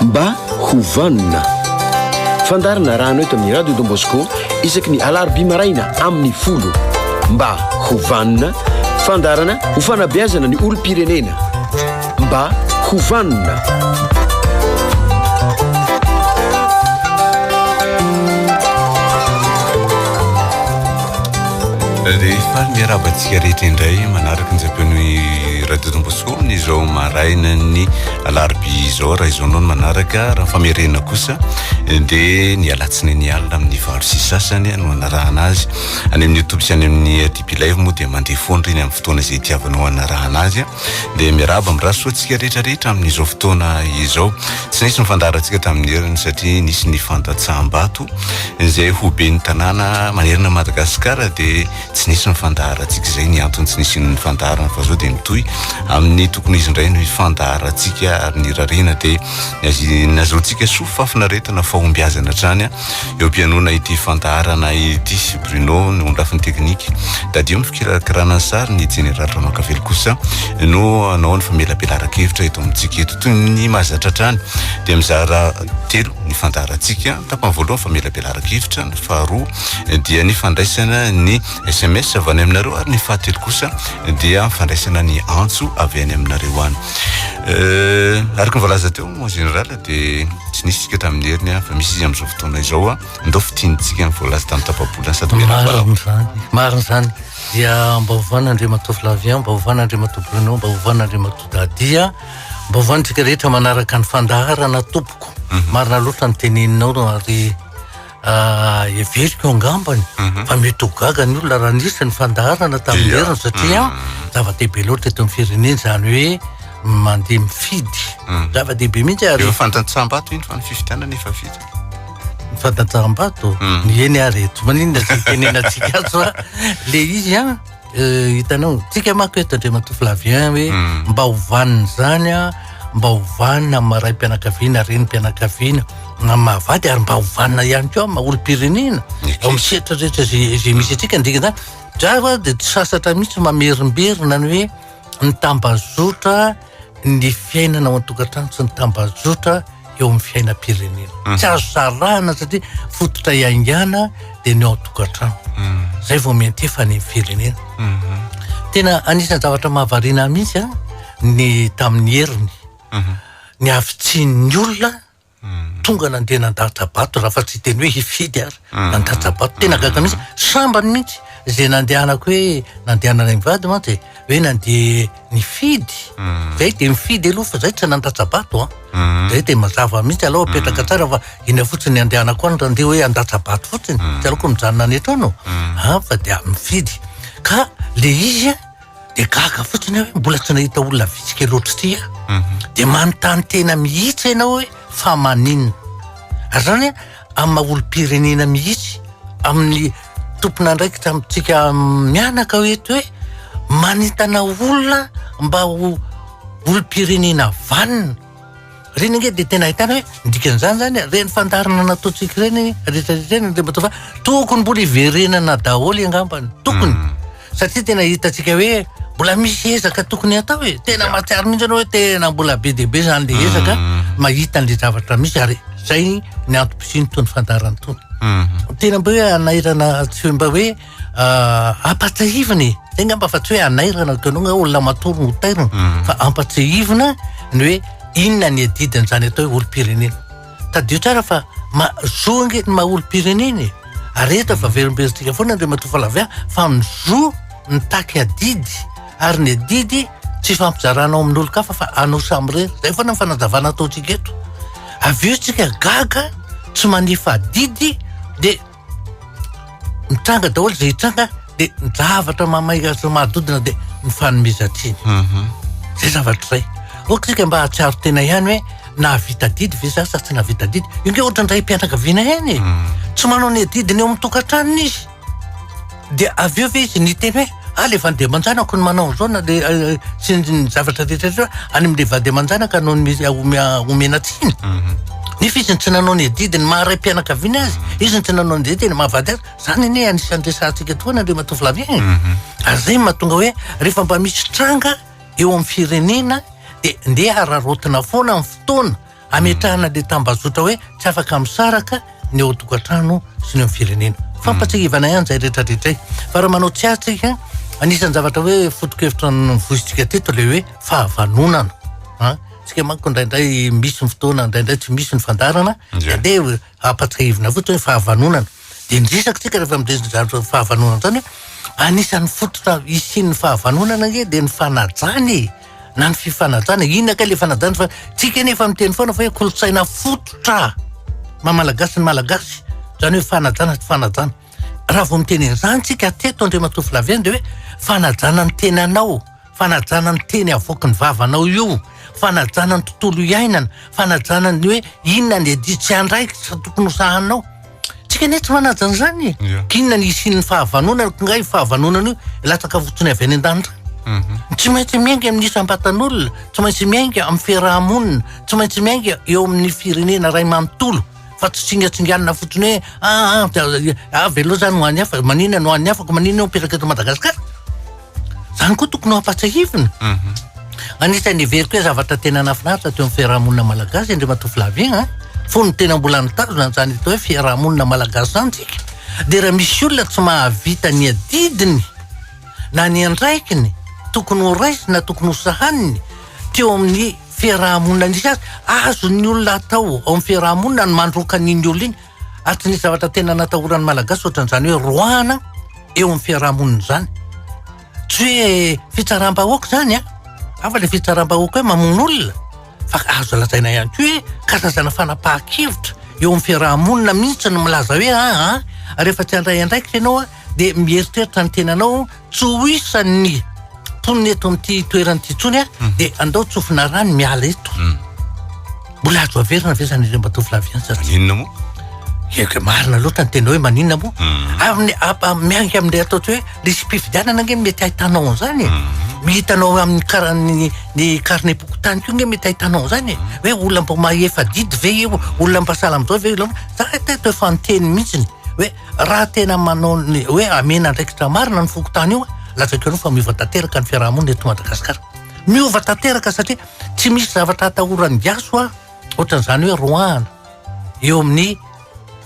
Mba ho vanona. Fandaharana arahana eto amin'ny Radio Don Bosco isaky ny alarobia maraina amin'ny folo. Mba ho vanona. Fandaharana ho fanabeazana ny olom-pirenena. Mba ho vanona. Rehefa miarahaba antsika rehetra indray manaraka ny zam-peo ny Radio Don Bosco. ambony izao marainan'ny alarobia izao raha izao noho ny manaraka raha famerena kosa dia ny alatsinainy alina amin'ny valo sy sasany no anarahana azy any amin'ny youtube sy any amin'ny tb live moa dia mandeha foana reny amin'ny fotoana izay tiavanao anarahana azy dia miraba amin'ny rasoantsika rehetrarehetra amin'izao fotoana izao tsy nisy mifandarantsika tamin'ny heriny satria nisy ny fandatsaham-bato izay ho be ny tanàna manerana madagasikara dia Tsy nisy ny fandaharantsika, izay ny antony tsy nisian'ny fandaharana fa zao dia mitohy amin'ny tokony izy indray no hifandaharantsika ary ny irariana dia ny azy nazahoantsika soa fafinaretana fahombiazana hatrany eo am-pianoana ity fandaharana ity sy Bruno ny ho ny lafiny teknika tadidio ny fikirakirana ny sary ny Jeneraly Ramankavelo kosa no hanao ny famelabelaran-kevitra eto amintsika eto toy ny mahazatra hatrany dia mizara telo ny fandaharantsika tapany voalohany famelabelaran-kevitra ny faharoa dia ny fandraisana ny sms avy any aminareo ary ny fahatelo kosa dia fandraisana ny antso avy any aminareo any euh, araka ny voalaza teo en général dia tsy nisy tsika tamin'ny heriny a fa misy izy amin'izao fotoana izao a ndao fitiantsika ny voalaza tamin'ny tapabolana sady mariny zany mariny zany dia mba hovana andriamatoa flavien mba hovana andriamatoa bruno mba hovana andriamatoa dadia mba hovantsika rehetra manaraka ny fandaharana tompoko mhm. marina loatra ny teneninao ary Ah, heveriko angambany mhm. fa mety ho gaga ny olona raha nisy ny fandaharana tamin'ny lerana satria mhm. zava-dehibe loatra eto amin'ny firenena izany hoe mandeha mifidy mhm. zava-dehibe mihitsy ary efa fantantsaham-bato iny fa ny fifidianana efa vita ny fantantsaham-bato ny eny ary eto maninona tsy tenenantsika azy fa le izy a Eh, hitanao tsika manko eto andriamatoa flavien hoe hmm. mba ho vanina izany a mba ho vanina amin'ny maray mpianakaviana reny mpianakaviana na mahavady ary mba ho vanina ihany koa ma olom-pirenena ao amin'ny setra rehetra izay misy atsika ndika zany dra fa dia tsy sasatra mihitsy mamerimberina ny hoe ny tambazotra ny fiainana ao an-tokantrano sy ny tambajotra eo amin'ny fiainam-pirenena mhm. tsy azo sarahana satria fototra iaingana dia ny ao an-tokantrano mhm. zay vao miantefa ny firenena mhm. tena anisan'ny zavatra mahavariana mihitsy a ny tamin'ny heriny ny avitsian'ny olona tonga nandeha nandatsa-bato raha fa tsy hiteny hoe hifidy ary mm. nandatsa-bato tena gaga mihitsy mm. sambany mihitsy izay nandehanako hoe nandehanana ny vady mantsy e. hoe nandeha nifidy mm. zay dia mifidy aloha fa zay tsy nandatsa-bato a ah. zay dia mazava mihitsy aloha apetraka tsara fa iny fotsiny andehanako any randeha hoe handatsa-bato fotsiny tsy aloko mijanona any etrano a ah, fa dia mifidy ka le izy a dia gaga fotsiny aho hoe mbola tsy nahita olona vitsy kely ohatr'ity aho. Mhm. Dia manontany tena mihitsy ianao hoe fa maninona. Ary zany amin'ny maha olom-pirenena mihitsy, amin'ny tompon'andraikitra amintsika mianaka hoe eto hoe manentana olona mba ho olom-pirenena vanona. Ireny ange dia tena ahitana hoe ny dikan'izany izany ireny fandaharana nataontsika ireny rehetrarehetra ireny Andriamatoa Fa tokony mbola hiverenana daholo angambany, tokony. Hmm. Satria tena hitantsika hoe mbola misy ezaka tokony hatao e. Tena mahatsiaro mihitsy ianao hoe tena mbola be dia be izany ilay ezaka hmm. mahita an'ilay zavatra misy ary izay ny antom-pisian'itony fandaharana itony. Hmm. Tena mba hoe hanahirana tsy mba hoe ampatsahivina e zay ngamba fa tsy hoe anairana kanao nga olona matory no tairina mm. fa ampatsahivina ny hoe inona ny adidiny zany atao hoe olom-pirenena tadio tsara fa mazo nge ny maha olom-pirenena e ary eto fa verimbezintsika foana ndre matoa falavia fa mizo mitaky adidy ary ny adidy tsy fampizarana ao amin'ny olon-kafa fa anao samirery zay foana ny fanazavana ataontsika eto avy eo tsika gaga tsy manefa adidy de mitranga daholo izay hitranga dia ny zavatra mamay azy manodidina dia ny fanomezan-tsiny mhm. zay zavatra izay ok tsika mba hahatsiaro tena ihany hoe nahavita didy ve za sa tsy nahavita didy inge ohatra ny ray mpianakaviana ihany e. mhm. tsy manao ny adidiny eo amin'ny tokantranony izy Dia avy eo ve izy niteny hoe ah le vady aman-janako no manao an'izao na le eh, sy ny zavatra rehetra rehetra any amin'ilay vady aman-janaka no mi- omea- omena tsiny Mhm. nefa izy no tsy nanao ny adidy ny maha raim-pianakaviana azy izy no tsy nanao ny adidy ny maha vady azy zany anie anisan'ny resahantsika tokoa na le matovolahy e Mhm. ary zay no mahatonga hoe rehefa mba misy tranga eo amin'ny firenena dia ndeha hararaotina foana ny fotoana Hametrahana ilay tambazotra hoe tsy afaka misaraka ny ao an-tokantrano sy ny ao amin'ny firenena. Fampatsiahivana ihany izay rehetra rehetra izay. Fa raha manao tsy azy tsika, anisan'ny zavatra hoe foto-kevitra novoisintsika teto ilay hoe fahavanonana. Ha? Tsika manko indraindray misy ny fotoana, indraindray tsy misy ny fandaharana, Ie. andeha hampatsiahivina fotsiny hoe fahavanonana. Dia ny resaka tsika rehefa midresy ny zavatra fahavanonana izany hoe anisan'ny fototra hisian'ny fahavanonana ange dia ny fanajana e! na ny fifanajana inona kay le fanajana fa tsika nefa miteny foana fa hoe kolontsaina fototra mamalagasy ny malagasy zany hoe fanajana tsy fanajana raha vao miteny an'izany tsika teto andriamatoa flavien de hoe fanajana ny teny anao fanajana ny teny avoaky ny vavanao io fanajana ny tontolo iainana fanajana ny hoe inona ny aditsy andraikitra tokony hosahanao Tsy kanety manaja an'izany e. Yeah. K'inona ny hisian'ny fahavanonana, k'ingahy io fahavanonana io latsaka fotsiny avy any an-danitra. Mhm. Tsy maintsy miainga amin'ny isam-batan'olona, tsy maintsy miainga amin'ny fiaraha-monina, tsy maintsy miainga eo amin'ny firenena iray manontolo fa tsy tsingatsinganina fotsiny hoe ah ah, ah, ah velao zany ho an'ny hafa, maninona no ho an'ny hafa, ko maninona no mipetraka eto Madagasikara. Zany koa tokony ho ampatsahivina. Mhm. Anisan'ny heveriko hoe zavatra tena nahafinaritra teo amin'ny fiarahamonina malagasy Andriamatoa Flavien a, fony tena mbola nitazona an'izany atao hoe fiarahamonina malagasy izany tsika dia raha misy olona tsy mahavita ny adidiny na ny andraikiny tokony ho raisiny na tokony ho sahaniny teo amin'ny fiarahamonina nisy azy, azon'ny olona atao ao amin'ny fiarahamonina ny mandroaka an'iny olona iny. Ary tsy nisy zavatra tena natahoran'ny Malagasy ohatran'izany hoe roahana eo amin'ny fiaraha-monina izany. Tsy hoe fitsaram-bahoaka izany an! Hafa ilay fitsaram-bahoaka hoe mamono olona, fa azo lazaina ihany koa hoe karazana fanapahan-kevitra eo amin'ny fiaraha-monina mihitsy ny milaza hoe aa rehefa tsy handray andraikitra ianao an! dia mieritreritra ny tenanao tsy ho isan'ny mponina eto amin'ity toerana ity intsony aho mhm. dia andao tsofina rano miala eto mhm. mbola azo averina ve zany ireo mbatovy laviany sa maninona moa eke marina loatra ny tena hoe maninona moa mhm. amin'ny apa miangy amin'ilay atao tsy hoe lisy mpifidianana ange mety hahitanao an'izany e. mihitanao amin'ny karany ny karne pokotany ko nge mety hahitanao an'izany e. hoe olona mba mahefa didy ve io olona mba salamzao ve za tete efa niteny mihitsiny hoe Raha tena manao ny hoe hamena andraikitra marina ny fokontany io, lazainkareo fa miova tanteraka ny fiarahamonina eto Madagasikara. Miova tanteraka satria tsy misy zavatra atahoran'ny gasy hoa ohatran'izany hoe roahana eo amin'ny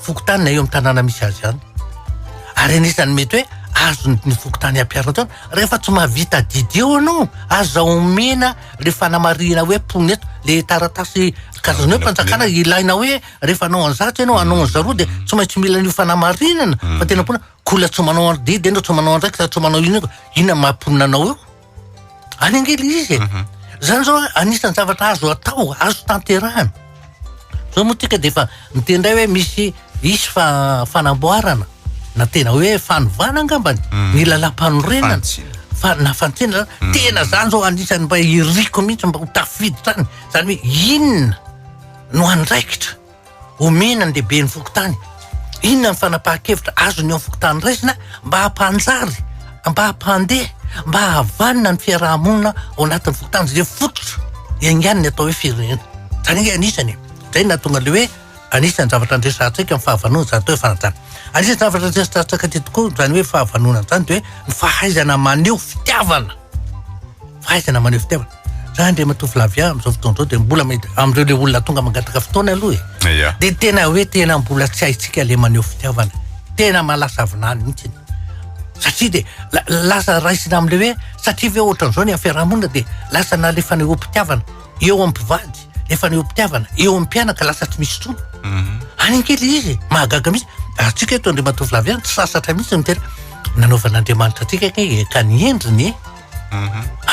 fokontany na eo amin'ny tanàna misy azy any. Ary anisan'ny mety hoe azony ny fokontany ampiaro an-trano rehefa tsy mahavita didy eo anao, aza omena le fanamarihina hoe mponina eto, le taratasy karazana hoe fanjakana ilaina hoe rehefa hanao an'i zato ianao hanao an'i zaroa dia tsy maintsy mila an'io fanamarinana hmm. fa tena mponina kola tsy manao an'i didy ianao tsy manao andraikitra tsy manao inona inona maha-mponina anao eo any angely izy e hmm. zany zao anisan'ny zavatra azo atao azo tanterahana zao moa tika dia efa miteny indray hoe misy isy fa fanamboarana na tena hoe fanovana angambany hmm. ny lalam-panorenana fa na fantsena tena zany zao anisan'ny mba iriko mihitsy mba ho tafiditra any zany hoe inona no andraikitra omena ny lehiben'ny fokontany? Inona ny fanapahan-kevitra azony eo amin'ny fokontany raisina mba hampanjary, mba hampandeha, mba hahavanona ny fiaraha-monina ao anatin'ny fokontany izay fototra iaingan'ny atao hoe firenena? Izany ange anisany e. Izay no nahatonga ilay hoe anisan'ny zavatra handresy antsika ny fahavanona izany atao hoe fanajana. Anisan'ny zavatra handresy antsika aty tokoa izany hoe fahavanona izany dia hoe ny fahaizana maneho fitiavana, fahaizana maneho fitiavana. Za Andriamatoa Flavien amin'izao fotoana izao dia mbola mety amin'ireo le olona tonga mangataka fotoana aloha e. Ya. Dia tena hoe tena mbola tsy haintsika le maneho fitiavana. Tena mahalasa vinany mihitsy. Satria dia la- lasa raisina amin'le hoe satria ve ohatran'izao ny amin'ny fiarahamonina dia lasa na le fanehoam-pitiavana eo amin'ny mpivady, le fanehoam-pitiavana eo amin'ny mpianaka lasa tsy misy intsony. Any kely le izy e, mahagaga mihitsy. Antsika eto Andriamatoa Flavien tsy sasatra mihitsy ny tena nanaovan'Andriamanitra antsika kay e, ka ny endriny e.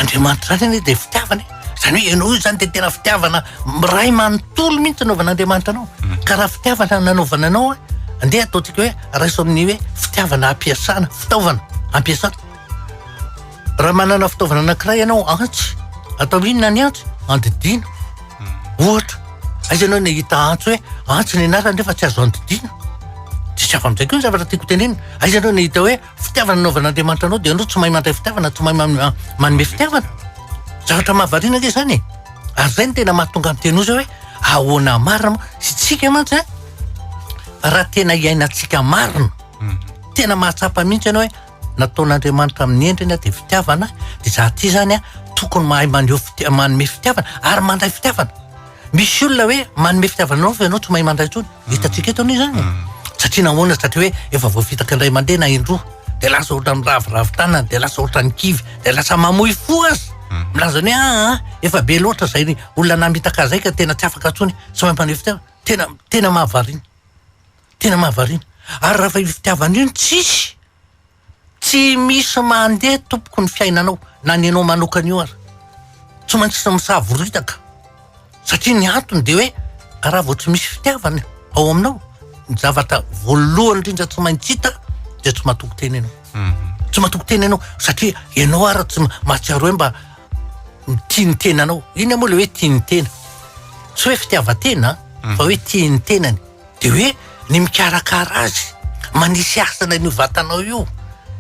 Andriamanitra izany anie dia fitiavana e. Izany hoe ianao io zany dia tena fitiavana miray manontolo mihitsy nanaovan'Andriamanitra anao. Ka raha fitiavana nanaovana anao, andeha ataontsika hoe raiso amin'ny hoe fitiavana hampiasana, fitaovana hampiasana. Raha manana fitaovana anankiray ianao, antsy, atao inona ny antsy? Andidiana, ohatra. Aiza ianao nahita antsy hoe antsy ny anarany nefa tsy azo andidiana? Tsy zava-mijery koa ny zavatra tiako hotenenina. Aiza ianao nahita hoe Fitiavana nanaovan'Andriamanitra anao dia ianao tsy mahay mandray fitiavana, tsy mahay manome fitiavana. Zavatra mahavariana ange izany e. Ary izay no tena mahatonga ny teny oza hoe ahoana marina moa. Sy tsika mantsy a, raha tena iainantsika marina, mhm. tena mahatsapa mihitsy ianao hoe nataon'Andriamanitra amin'ny endriny dia fitiavana, dia izaho ity izany a, tokony mahay maneho fitia- manome fitiavana ary mandray fitiavana. Misy olona hoe manome fitiavanao fa ianao tsy mahay mandray intsony. Ny hitantsika eto anie izany. Satria nahoana? Satria hoe efa voafitaka indray mandeha na indroa. Dia lasa ohatra ny raviravy tanana, dia lasa ohatra ny kivy, dia lasa mamoy fo aza. Milaza ny hoe aa a, efa be loatra izay ny olona namitaka ahy izay ka tena tsy afaka intsony. Tsy mahay maneho fitiavana. Tena, tena mahavariana. Tena mahavariana. Ary raha fa io fitiavana io no tsisy. Tsy misy mandeha tompoko ny fiainanao na ny anao manokana io ary tsy maintsy misavoritaka satria ny antony dia hoe raha vao tsy misy fitiavana ao aminao ny zavatra voalohany indrindra tsy maintsy hita dia tsy matoky tena ianao mhm. tsy matoky tena ianao satria ianao ary tsy mahatsiaro hoe mba mitia ny tenanao iny moa le hoe tia ny tena tsy hoe fitiavan-tena mhm. fa hoe tia ny tenany Dia hoe ny mikarakara azy, manisy hasina an'io vatanao io.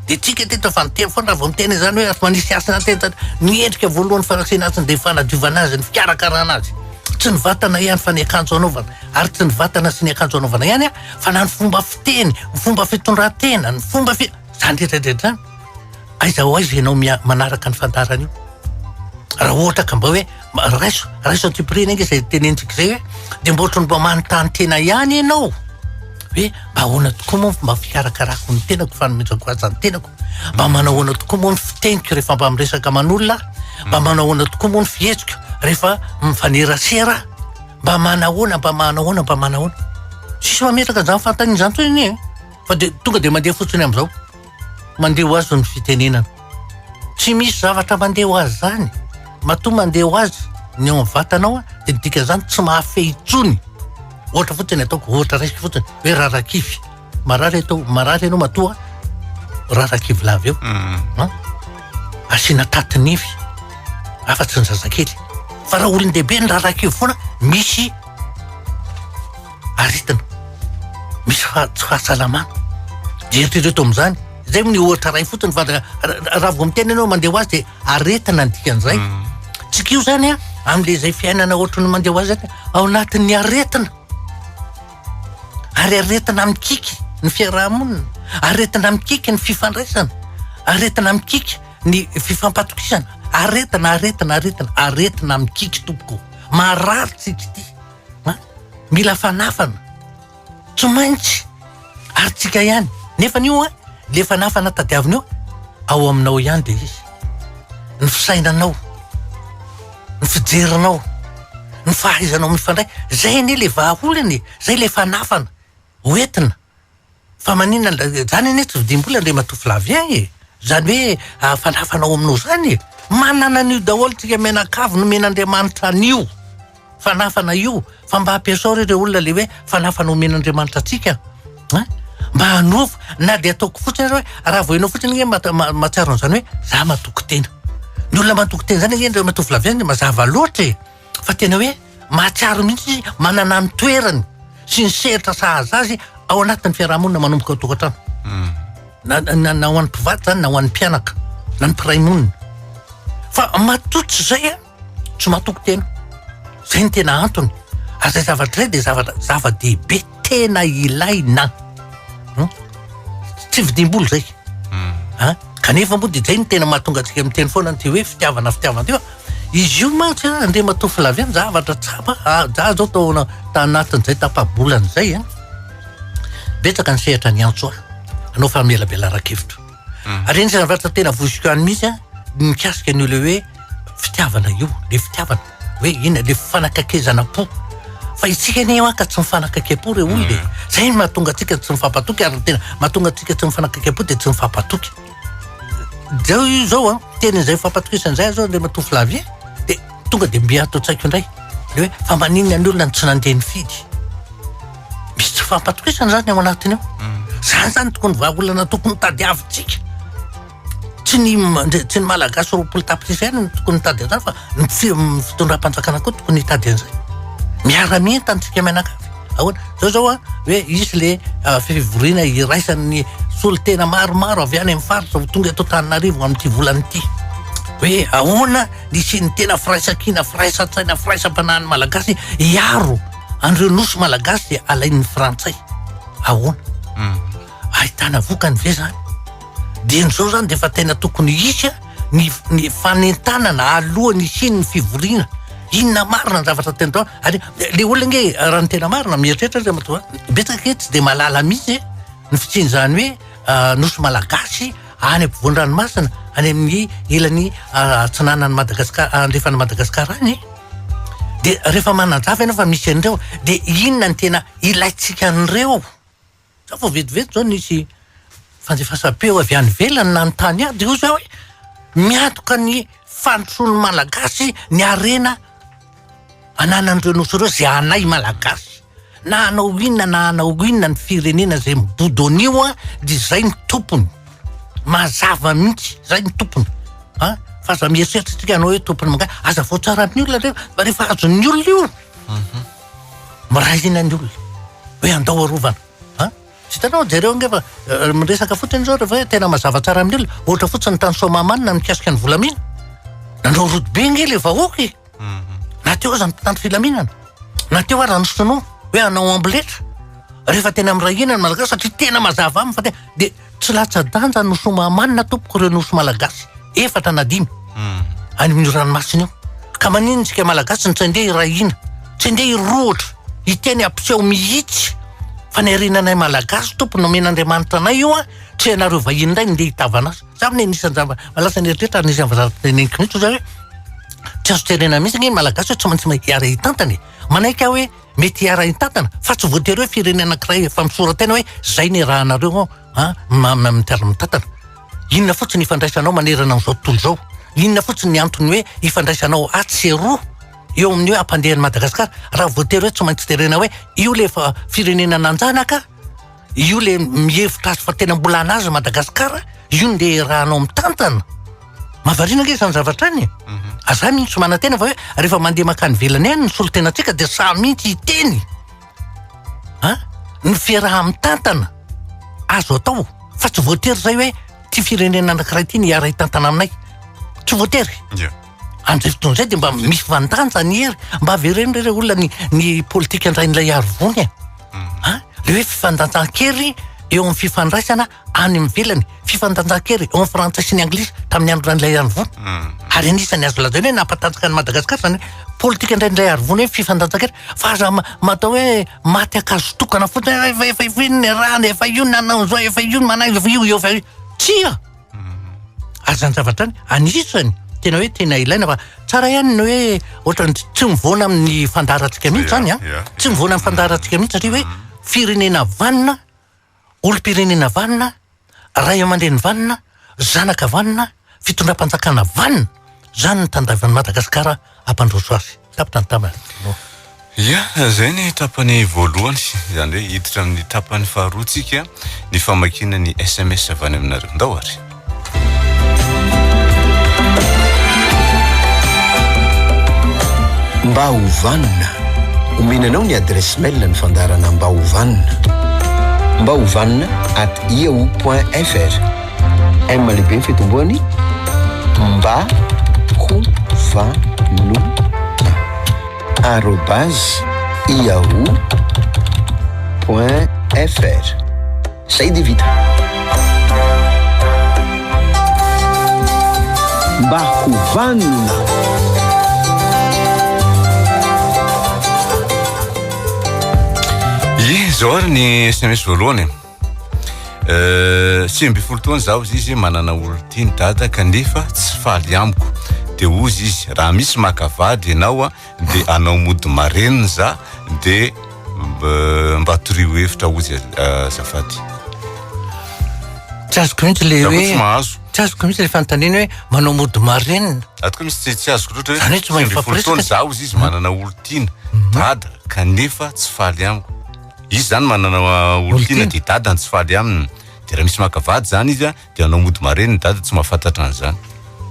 Dia tsika teto efa niteny foana raha vao miteny an'izany hoe manisy hasina teto ny endrika voalohany fanatrehana azy dia ny fanadiovana azy, ny fikarakarana azy. Tsy ny vatana ihany fa ny akanjo anaovana, ary tsy ny vatana sy ny akanjo anaovana ihany fa na ny fomba fiteny, ny fomba fitondrantena, ny fomba fi-, izany rehetra rehetra izany. Aiza ho aiza ianao mia- manaraka ny fandarana io? Raha ohatra ka mba hoe ma- raiso raiso an'ity prix-ny anga izay tenenitsika izay hoe dia mba ohatran'ny mba manontany tena ihany ianao hoe mba ahoana tokoa moa ny fomba fikarakarako ny tenako, fanomezako azy ny tenako? Mba manao ahoana tokoa moa ny fiteniko rehefa mba miresaka aman'olona aho? Mba manao ahoana tokoa moa ny fihetsiko rehefa mifanerasera aho? Mba manahoana, mba manahoana, mba manahoana? Tsisy mametraka izany fanontaniana izany intsony anie e! Fa dia tonga dia mandeha fotsiny amin'izao. Mandeha ho azy ny fitenenana. Tsy misy zavatra mandeha ho azy zany. Matoa mandeha ho azy ny ao amin'ny vatanao dia ny dikan'izany tsy mahafehy intsony. Ohatra fotsiny ataoko, ohatra raisiko fotsiny hoe rarakify. Marary atao, marary ianao matoa rarakivy lava eo. Mm. Asiana taty nify. Hafa tsy ny zazakely. Fa raha olon-dehibe ny rarakivy foana misy aretina misy tsy fahasalamana dia eritrereto amin'izany zay moa ny ohatra iray fotsiny fa raha vao miteny ianao mandeha ho azy dia aretina ny dikan'izay mm. tsika io zany a amin'le izay fiainana ohatra ny mandeha ho azy zany ao anatin'ny aretina ary aretina mikiky ny fiarahamonina aretina mikiky ny fifandraisana aretina mikiky ny fifampatokisana aretina aretina aretina aretina mikiky tompoko maharary tsika ity Mila fanafana, tsy maintsy arintsika ihany. Nefa io an, le fanafana tadiaviny io, ao aminao ihany dia izy. Ny fisainanao, ny fijerinao, ny fahaizanao mifandray. Zay anie le vahaolana e, zay le fanafana hoentina. Fa maninona an-dra, izany anie tsy vidim-bola Andriamatoa Flavien e! izany hoe ahafanhafanao aminao izany e! manana an'io daholo isika mianakavy nomen'Andriamanitra an'io fanhafana io, fa mba ampiasao re ireo olona le hoe fanhafana omen'Andriamanitra antsika an! mba hanovo, na dia ataoko fotsiny ary hoe raha voenao fotsiny ange ma- ma- mahatsiaro an'izany hoe za matoky tena, ny olona matoky tena izany ange Andriamatoa Flavien mazava loatra e! fa tena hoe mahatsiaro mihitsy izy manana ny toerany sy ny sehatra sahaza azy ao anatin'ny fiarahamonina manomboka ao tokantrano hmm. na na na ho an'ny mpivady zany na ho an'ny mpianaka na ny mpiray monina fa matoa tsy zay a tsy matoko tena zay ny tena antony ary zay zavatra zay de zavatra zava-dehibe tena ilaina an, tsy vidim-bola zay an, kanefa moa dia zay no tena mahatonga antsika miteny foana an'ity hoe fitiavana fitiavana ity fa izy io mantsy an, Andriamatoa Flavien zavatra tsapa an, za zao tao ana- tanatin'izay tapa-bolana izay an, betsaka ny sehatra niantso ahy hanao famelabelaran-kevitra ary anisan'ny zavatra tena voiziko ihany mihitsy an, ny mikasika an'io le hoe fitiavana io, le fitiavana. Hoe inona le fanakaikezana po? Fa itsika anie manka tsy mifanakaikem-po re olona e. Zay no mahatonga antsika tsy mifampatoky ary ny tena mahatonga antsika tsy mifanakaikem-po dia tsy mifampatoky. Zao io zao an, teny izay fampatokisana izay zao Andriamatoa Flavie dia tonga dia mby ato an-tsaiko indray. Le hoe fa maninona ny olona no tsy nandeha nifidy? Misy tsy fampatokisana zany ao anatiny ao. Zany zany tokony vahaolana tokony tadiavintsika. Tsy ny tsy ny Malagasy roapolo tapitrisa ihany no tokony hitady an'izany fa ny fitondram-panjakana koa tokony hitady an'izay. Miara-mientana isika mianakavy. Ahoana? Zao zao a, hoe hisy le fivoriana iraisan'ny solontena maromaro avy any amin'ny faritra ho tonga eto Antananarivo amin'ity volana ity. Hoe ahoana ny hisian'ny tena firaisankina, firaisan-tsaina, firaisam-panahin'ny Malagasy hiaro an'ireo nosy Malagasy alain'ny Frantsay. Ahoana? ahitana vokany ve zany? Dieny zao zany de efa tena tokony hisy a ny ny fanentanana alohan'ny hisian'ny fivoriana, inona marina ny zavatra tena atao ary le olona nge raha ny tena marina mieritreritra ry ramatoa a, betsaka ankehitriny tsy de mahalala mihitsy e, ny fisian'izany hoe nosy malagasy any ampovoan'ny ranomasina any amin'ny ilany atsinanan'i Madagasikara andrefan'i Madagasikara any e, de rehefa manazava ianao fa misy an'ireo de inona ny tena ilaintsika an'ireo? Sao vao vetivety izao nisy fandefasam-peo avy any ivelany nanontany ahy, dia hoy izaho hoe, miantoka ny fandrosoan'ny Malagasy ny harena ananan'ireo Nosy ireo izay anay Malagasy. Na hanao inona na hanao inona ny firenena izay mibodo an'io an, dia izay no tompony. Mazava mihitsy, izay no tompony. An, fa aza mieritreritra isika hanao hoe tompony manga, aza voatsaran'ny olona anefa fa rehefa azon'ny olona io, Miray hina ny olona hoe andao arovana a! Tsy hitanao, jereo ange fa miresaka fotsiny izao rehefa hoe tena mazava tsara amin'ny olona, ohatra fotsiny tany Soamahamanina ny mikasika ny volamena, nanao route be ange ilay vahoaka e! na teo aza ny mpitandro filaminana, na teo aza ny sinoa hoe hanao amboletra, rehefa tena miray hina ny Malagasy satria tena mazava aminy fa tena dia. Tsy latsa-danja ny nosy Omahamanina tompoko ireo nosy malagasy efatra na dimy any amin'io ranomasina io. Ka maninona isika malagasy no tsy andeha hiray hina, tsy andeha hirohotra, hiteny ampiseho mihitsy fa ny harenanay malagasy tompoko nomen'Andriamanitra anay io an, tsy ianareo vahiny indray no ndeha hitavana azy. Za anie anisan'ny zava, lasa ny eritreritra ary anisan'ny zavatra teneniko mihitsy hoe tsy azo terena mihitsy anie ny malagasy hoe tsy maintsy hiara hitantana e! Manaiky aho hoe. Mety hiara-hitantana fa tsy voatery hoe firenena anankiray efa misora-tena hoe zay ny rahanareo an, an, ma, ma, amin'ny terme mitantana. Inona fotsiny ifandraisanao manerana an'izao tontolo izao? Inona fotsiny ny antony hoe ifandraisanao atsy sy eroa eo amin'ny hoe hampandeha an'i Madagasikara raha voatery hoe tsy maintsy jerena hoe io ilay efa firenena nanjanaka, Io le mihevitra azy fa tena mbola anazy Madagascar, io no ndeha iarahanao mitantana. Mahavariana ange izany zavatra any e. Mhm. Aza mihitsy tsy manantena fa hoe rehefa mandeha mankany ivelany any ny solontenantsika dia sahy mihitsy hiteny. An? Ny fiaraha-mitantana azo atao fa tsy voatery izay hoe ity firenena anankiray ity ny hiara-hitantana aminay. Tsy voatery. Yeah. Amin'izay fotoana izay dia mba misy fandanja ny hery. Mba avereno ireo olona ny, ny politika andrain'ilay arivony e. Ah, le hoe fifandanjan-kery eo amin'ny fifandraisana any amin'ny vilany. Fifandanjan-kery eo amin'ny frantsay sy ny anglisy tamin'ny andron'ilay arivony. Hmm. Ary anisan'ny azo lazaina hoe nampatanjaka ny Madagasikara izany politika indraindray arivony hoe fifandanjan-kery. Fa aza matao hoe maty akazo tokana fotsiny, efa, efa, efa, efa io ny rany, efa io ny nanao izao, efa io ny manao, efa io, efa io. Tsia! ary zany zavatra any anisany tena hoe tena ilaina fa tsara ihany ny hoe ohatrany tsy mivoana amin'ny fandaharantsika mihitsy zany a ah. tsy mivoana amin'ny fandaharantsika mihitsy satria hoe firenena vanina olom-pirenena vanina ray aman-dreny vanina zanaka vanina fitondram-panjakana vanina zany ny tandavan'i madagasikara hampandroso azy. Tapitra ny tapany voalohany. Ia, izay ny tapany voalohany. Izany hoe hiditra amin'ny tapany faharoa tsika ny famakiana ny sms avy any aminareo. Ndao ary. Mba ho vanona. Omena anao ny adresse mail ny fandaharana Mba ho vanona. Mba ho vanona at yahoo.fr. M lehibe ny fitomboany mba ho vanona arobase yahoo point fr zay dia vita mba ho vanona ye zao ary ny sms voalohany Euh, sivy ambin'ny folo taona zaho izy izy manana olon-tiany dada kanefa tsy faly amiko de ozy izy raha misy maka vady ianao a de anao mody marenina za de euh, mba torio hevitra ozy euh, azafady tsy azoko mihitsy le hoe tsy mahazo tsy azoko mihitsy le fanontaniana hoe manao mody marenina ato koa misy tsy azoko loatra hoe tsy mahay folo taona zaho izy izy manana olon-tiana mhm. dada kanefa tsy faly amiko Izy zany manana olon-tiana dia dadany tsy faly aminy dia raha misy maka vady zany izy dia hanao mody mareniny ny dadany tsy mahafantatra an'izany.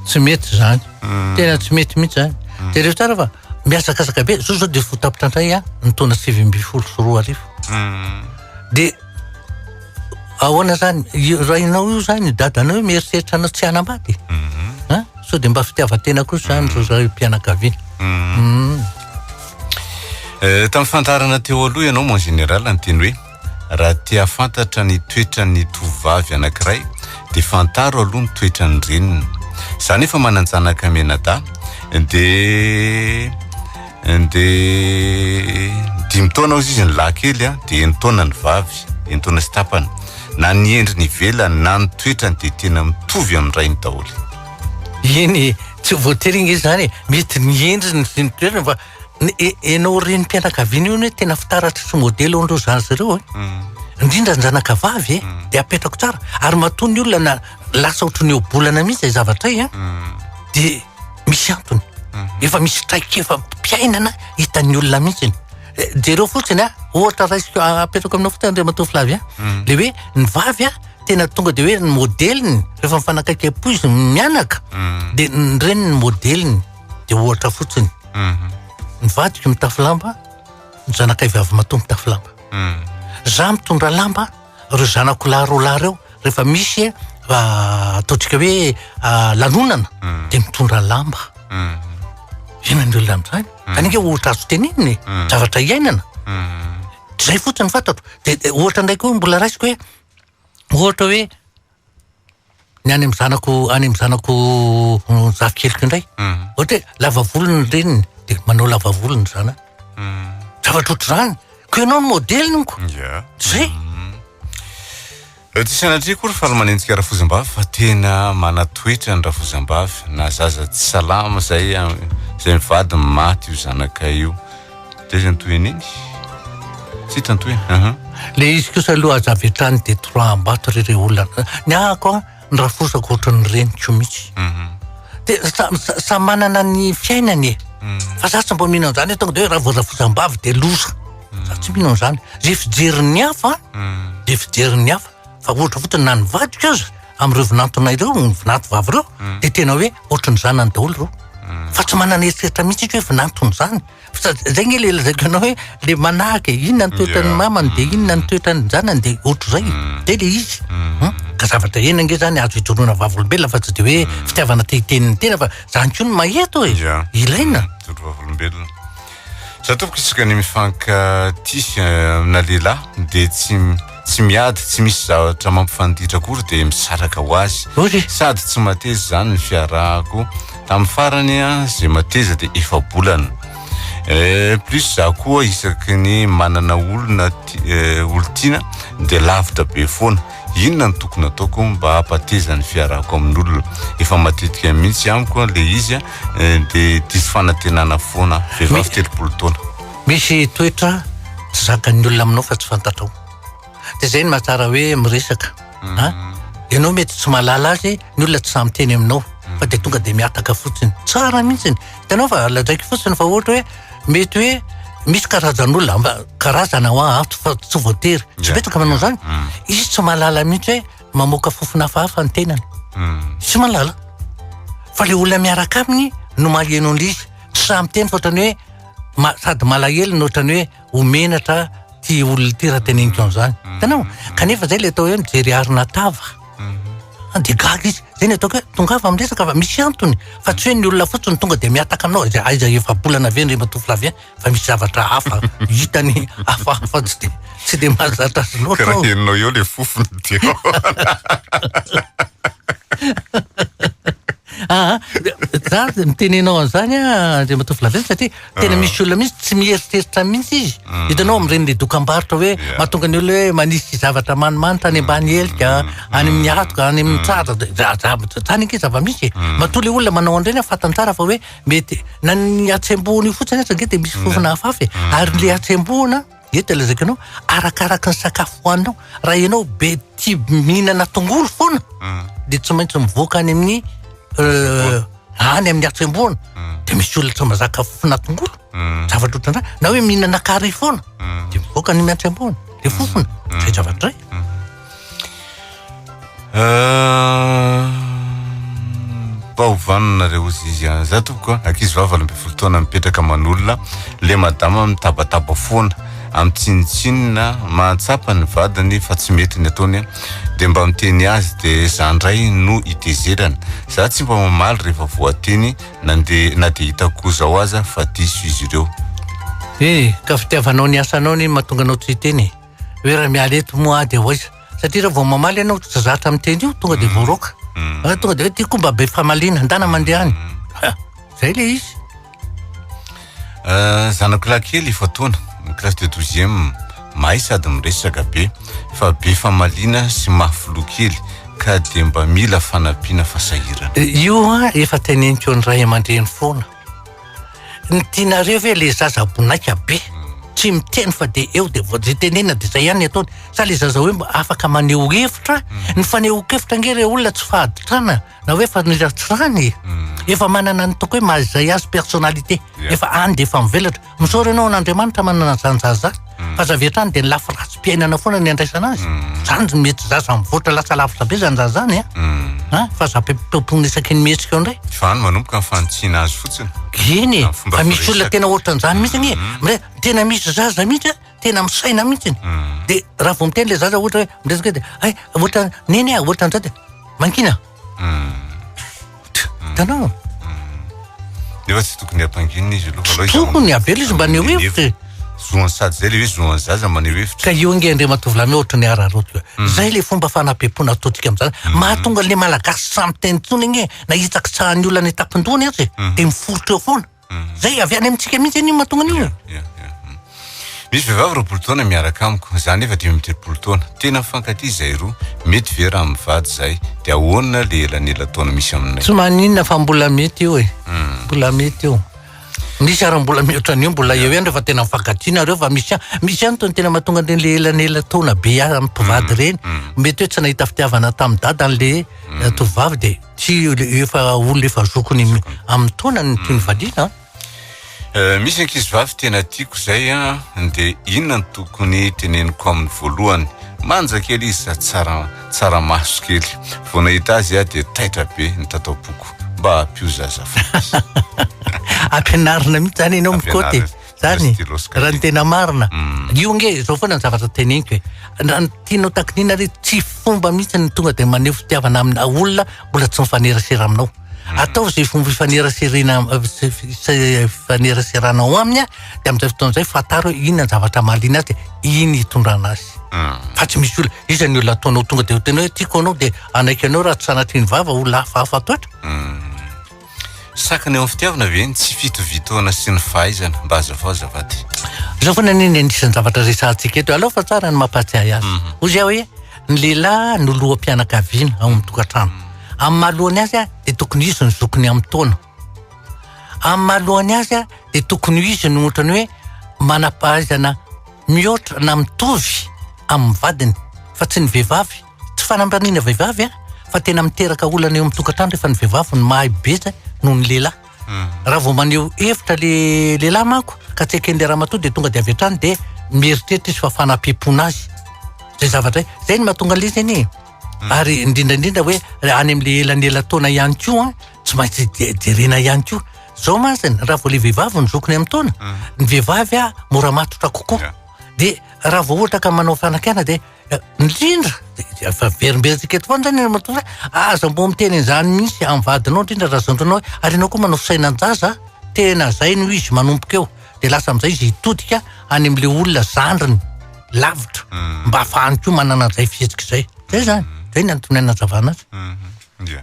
Tsy mety zany. Hmm. Tena tsy mety mihitsy zany. Hmm. Dia reo tsara fa mihazakazaka be. Zao zao dia fo tapitra indray an, ny taona sivy ambin'ny folo sy roa arivo. Hmm. Dia ahoana zany? Rainao io zany, dadanao io mieritreritra anao tsy hanambady. Sao dia mba fitiavan-tena kosa zany zao zao io mpianakaviana. Eh, tamin'ny fandaharana teo aloha ianao mon général ny teny hoe raha te hahafantatra ny toetran'ny tovovavy anankiray dia fantaro aloha ny toetran'ny reniny za nefa manan-janaka menadahy dia dia dimy taona ozy izy ny lahy kely a dia enitaona ny vavy enitaona sy tapany na ny endriny ivelany na ny toetrany dia tena mitovy amin'ny rainy daholo Eny e, tsy voatery ange izany e, mety ny endriny sy ny toerana fa ny e- ianao renim-pianakaviana io anie tena fitaratra sy modely hoan'ireo zandry ireo e. Indrindra ny zanakavavy e, dia apetrako tsara ary matoa ny olona na lasa ohatry ny ohabolana mihitsy izay zavatra izay an, dia misy antony. Efa misy traikefa am-piainana hitan'ny olona mihitsy iny. Eh, Jereo fotsiny an, ohatra raisiko a- apetrako aminao fotsiny Andriamatoa Flavien, le hoe ny vavy an, tena tonga de hoe ny modeliny rehefa mifanakaiky am-po izy mianaka mm. de ny reniny ny modeliny de ohatra fotsiny mhm. ny vadiko mitafy lamba ny zanakay vavy matoa mitafy lamba mm. za mitondra lamba reo zanako lahy roa lahy reo rehefa misy eh, ataontsika hoe ah, lanonana mm. de mitondra lamba ena ny olona am'zany zany nge ohatra azo tenenina e zavatra iainana zay fotsiny fantatro de ohatra ndraiky hoe mbola raisiko hoe Ohatra hoe ny any amin'ny zanako any amin'ny zanako zafikeliko indray. Hmm. Ohatra hoe lava volo ny reniny dia manao lava volo ny zanany. Hmm. Zavatra ohatr'izany. Ko ianao ny modeliny ko. Yeah. Zay. Hmm. Tsy sanatria koa ry falomanentsika rafozambavy fa tena manatoetra ny rafozambavy na zaza tsy salama zay zay mivady maty io zanakay io. Dia izy antoy an'iny. Tsy tantoy aha. Le izy kosa aloha aza avy hatrany dia trois ambato ry ireo olona. Ny ahako a, ny raforosako ohatran'ny reniko mihitsy. Mhm. Dia sa- sa- samy manana ny fiainany e. Mhm. Fa za tsy mba mino an'izany hoe tonga dia hoe raha voarafosam-bavy dia loza. Za tsy mino an'izany. Izay fijerin'ny hafa Mhm. dia fijerin'ny hafa. Fa ohatra fotsiny na ny vadiko aza amin'ireo vinantona ireo, ny vinanto vavy ireo, mm. dia tena hoe ohatran'ny zanany daholo ireo. Mm. Fa tsy manana eritreritra mihitsy izy hoe vinantony izany. Fa izay nge le lazaiko ianao hoe le manahaka e, inona ny toetran'ny mamany dia inona ny toetran'ny zanany dia ohatr'izay. Mm. Dia le izy. Hmm? Ka zavatra ena nge izany azo ijoroana vavolombelona fa tsy dia hoe fitiavana te hiteny ny tena fa izany koa no maheto e. Ilaina. Ijoro vavolombelona. Za tompoko isaka ny mifankatia amina lehilahy dia tsy tsy miady tsy misy zavatra mampifanditra akory dia misaraka ho azy sady tsy mateza izany ny fiarahako tamin'ny farany a izay mateza dia efa bolana eh, plus za koa isaky ny manana olona eh, olotiana dia lavitra be foana Inona no tokony ataoko mba hampateza ny fiarahako amin'olona? Efa matetika mihitsy amiko ilay izy a, dia diso fanantenana foana. Vehivavy telopolo taona. Misy toetra tsy zakan'ny olona aminao fa tsy fantatrao. Dia izay no mahatsara hoe miresaka a. Ianao mety tsy mahalala azy, ny olona tsy sahy miteny aminao fa dia tonga dia mihataka fotsiny. Tsara mihitsy. Hitanao fa lazaiko fotsiny fa ohatra hoe. Mety hoe misy karazan'olona mba karazana ho a- ato fa tsy voatery. Tsy Yeah. betsaka manao izany. Mm. Izy tsy mahalala mihitsy hoe mamoaka fofona hafahafa ny tenany. Mm. Tsy mahalala. Fa le olona miaraka aminy no maheno an'izy. Tsy sahy miteny fa ohatrany hoe ma- sady malahelo no ohatrany hoe ho menatra ty olona ty raha teneniko an'izany. Hitanao? Kanefa izay le atao hoe mijery arina tava. dia gaga izy, zay ny ataoko hoe tongava amin'ny resaka fa misy antony fa tsy hoe ny olona fotsiny tonga dia mihataka aminao, aiza aiza efa-bolana ve ny ramatoa Flavien fa misy zavatra hafa hitany hafahafa tsy dia tsy dia mahazatra azy loatra aho. Karaha henonao eo le fofona ity ao. Aa, za mitenena anao an'izany an, Andriamatoa Flavien satria. Tena misy olona mihitsy tsy mieritreritra mihitsy izy. Hitanao amin'ireny le dokambarotra hoe mahatonga ny olona hoe manisy zavatra manimanitra any ambany helika, any amin'ny hatoka, any amin'ny tratra, zany ange zava-misy e. Matoa le olona manao an'ireny fantany tsara fa hoe mety na ny hatsembohana io fotsiny aza ange dia misy fofona hafahafa e. Ary le hatsembohana Dia te lazaiko anao, arakaraka ny sakafo hohaninao. Raha ianao be tia mihinana tongolo foana, hmm. dia tsy maintsy mivoaka any amin'ny euh, any amin'ny hatsembohana. Hmm. Dia misy olona tsy mazaka fofona tongolo, hmm. zavatra ohatran'izany. Na hoe mihinana kary foana, dia mivoaka any amin'ny hatsembohana, dia fofona, zay zavatra zay. Euh, mba ho vanona reo ozy izy an za tompoko a ankizy vavy valo ambin'ny folo taona mipetraka manolona le madama mitabataba foana amin'ny tsinontsinona mahatsapa ny vadiny fa tsy mety ny ataony a de mba miteny azy de za ndray no itezerana za tsy mba mamaly rehefa voateny na de na de hitako zao aza fa diso izy ireo eh ka fitiavanao ny asanao ny mahatonga anao tsy hiteny e hoe raha miala eto moa aho dia ho aiza? Satria raha vao mamaly ianao tsy zatra amin'ny teny io, tonga dia mm. voaroaka. Mm. Ah, tonga dia hoe ty koa mba be famaliana, handana mandeha any. Mm. Zay le izy. Euh, zanako lahy kely efa taona, classe de douzième, mahay sady miresaka be, fa be famaliana sy mahafiloha kely ka dia mba mila fanampiana fasahirana. Eh, io ah, efa teneniko ny ray aman-dreny foana. Ny tianareo ve le zaza bonaika be tsy miteny fa de eo de vao ze tenenina de zay ihany ny ataony sa le zaza hoe mba afaka maneho hevitra ny fanehoan-kevitra ange le olona tsy fahaditrana na hoe faniratsirana e efa manana ny ataoko hoe maha izay azy personnalité efa any de efa mivelatra Misaotra anao an'Andriamanitra manana izany zaza izany. Hmm. Fa zavy hatrany dia ny lafy ratsy-piainana foana ny andraisana azy. Hmm. Izany no mety zaza mivoatra lasa lavitra be izany zaza izany. Hmm. Fa zavy ampitompoina isaky ny mihetsika eo indray. Fa any manomboka ny fanitsiana azy fotsiny. Eny, fa misy olona tena ohatran'izany mihitsy anie. Mre, tena misy zaza mihitsy tena misaina mihitsy. Dia raha vao miteny ilay zaza ohatra hoe miresaka dia ay ohatra neny a, ohatra an'izao dia mankina. hitanao nefa tsy tokony hampanginina izy aloha aloha tokony avela izy mba neo hevitra e. zoan sady zay le hoe zoan zaza mba neo hevitra ka io ange andriamatoa lame ohatra ny araroto mm. zay le fomba fanapepona atodika amizany mm. mahatonga le malagasy samy teny tsony agne na hitsakitsahany olona ny tapindohany aza e mm. de miforitra eo foana Zay avy any amintsika mihitsy an'io mahatonga an'io. Misy vehivavy roapolo taona miaraka amiko, za nefa dimy amby telopolo taona. Tena mifankatia izay roa. Mety ve raha mivady izay? Dia ahoana le elanela taona misy aminay? Tsy maninona fa mbola mety io e. Hmm. Mbola mety io. Misy ary mbola mihoatra an'io mbola eo ihany rehefa tena mifankatia nareo fa misy misy ihany tony tena mahatonga an'ireny le elanela taona be mpivady hmm. ireny. Hmm. Mety hoe tsy nahita fitiavana tamin'ny dadany le tovovavy dia Tsy efa olona efa zokony amin'ny taona ny tiany valiana an. Eh, misy ankizivavy tena tiako izay a dia inona no tokony teneniko aminy voalohany manja kely izy sady tsara tsara maso kely vao nahita azy a dia taitra be ny tato am-poko mba hampio zazafady ampianarina mihitsy zany ianao mikoty Zany, raha ny tena marina. Mm. Io nge, zao foana ny zavatra teneniko e. Raha ny tianao takiniana re, tsy fomba mihitsy ny tonga dia maneho fitiavana amina olona mbola tsy mifanerasera aminao. Mm. Atao izay fomba ifaneraserena, ifaneraserana ao aminy, dia amin'izay fotoana izay fantaro hoe inona ny zavatra mahaliana azy, iny hitondrana azy. Mm. Fa tsy misy olona, iza ny olona ataonao tonga dia ho tena hoe tiako anao dia hanaiky anao raha tsy sanatrian'ny vava, olona hafahafa toetra. Sakana eo amin'ny fitiavana ve ny tsy fitovitoana sy ny fahaizana? Mba hazavao azafady. Izao foana anie ny anisan'ny zavatra resahantsika eto. Aleo fa tsara ny mampahatsiahy azy. Mhm. Hoy aho hoe ny lehilahy no loham-pianakaviana ao amin'ny tokantrano. Amin'ny mahalohany azy a, dia tokony izy no zokiny amin'ny taona. Amin'ny mahalohany azy a, dia tokony izy no ohatrany hoe manam-pahaizana mihoatra na mitovy amin'ny vadiny fa tsy ny vehivavy. Tsy fanamraniana vehivavy an, fa tena miteraka olana eo amin'ny tokantrano rehefa ny vehivavy no mahay betsa noho ny lehilahy. Hmm. Raha vao maneho hevitra le lehilahy manko ka tsy eken'ilay ramatoa dia tonga dia avy hatrany dia mieritreritra izy fa fanapim-pona azy. Zay zavatra izay. Zay no mahatonga an'ilay izy anie. E. Hmm. Ary indrindra indrindra hoe any amin'ilay elanelataona ihany koa an, tsy maintsy jerena ihany koa. Zao masina, raha vao le vehivavy no zokiny amin'ny taona, hmm. ny vehivavy mora matotra kokoa. Dia raha vao ohatra ka manao fanakana dia Indrindra, efa very mbe antsika eto foana zany matoa aza mbo miteny an'izany mihitsy amin'ny vadinao indrindra raha zandrinao hoe ary ianao koa manao fisainanjaza a! tena zay no izy manomboka eo dia lasa amin'izay izy hitodika any amin'ilay olona zandriny lavitra mba hahafahany koa manana an'izay fihetsika izay, zay zany, zay no antony anazavana azy.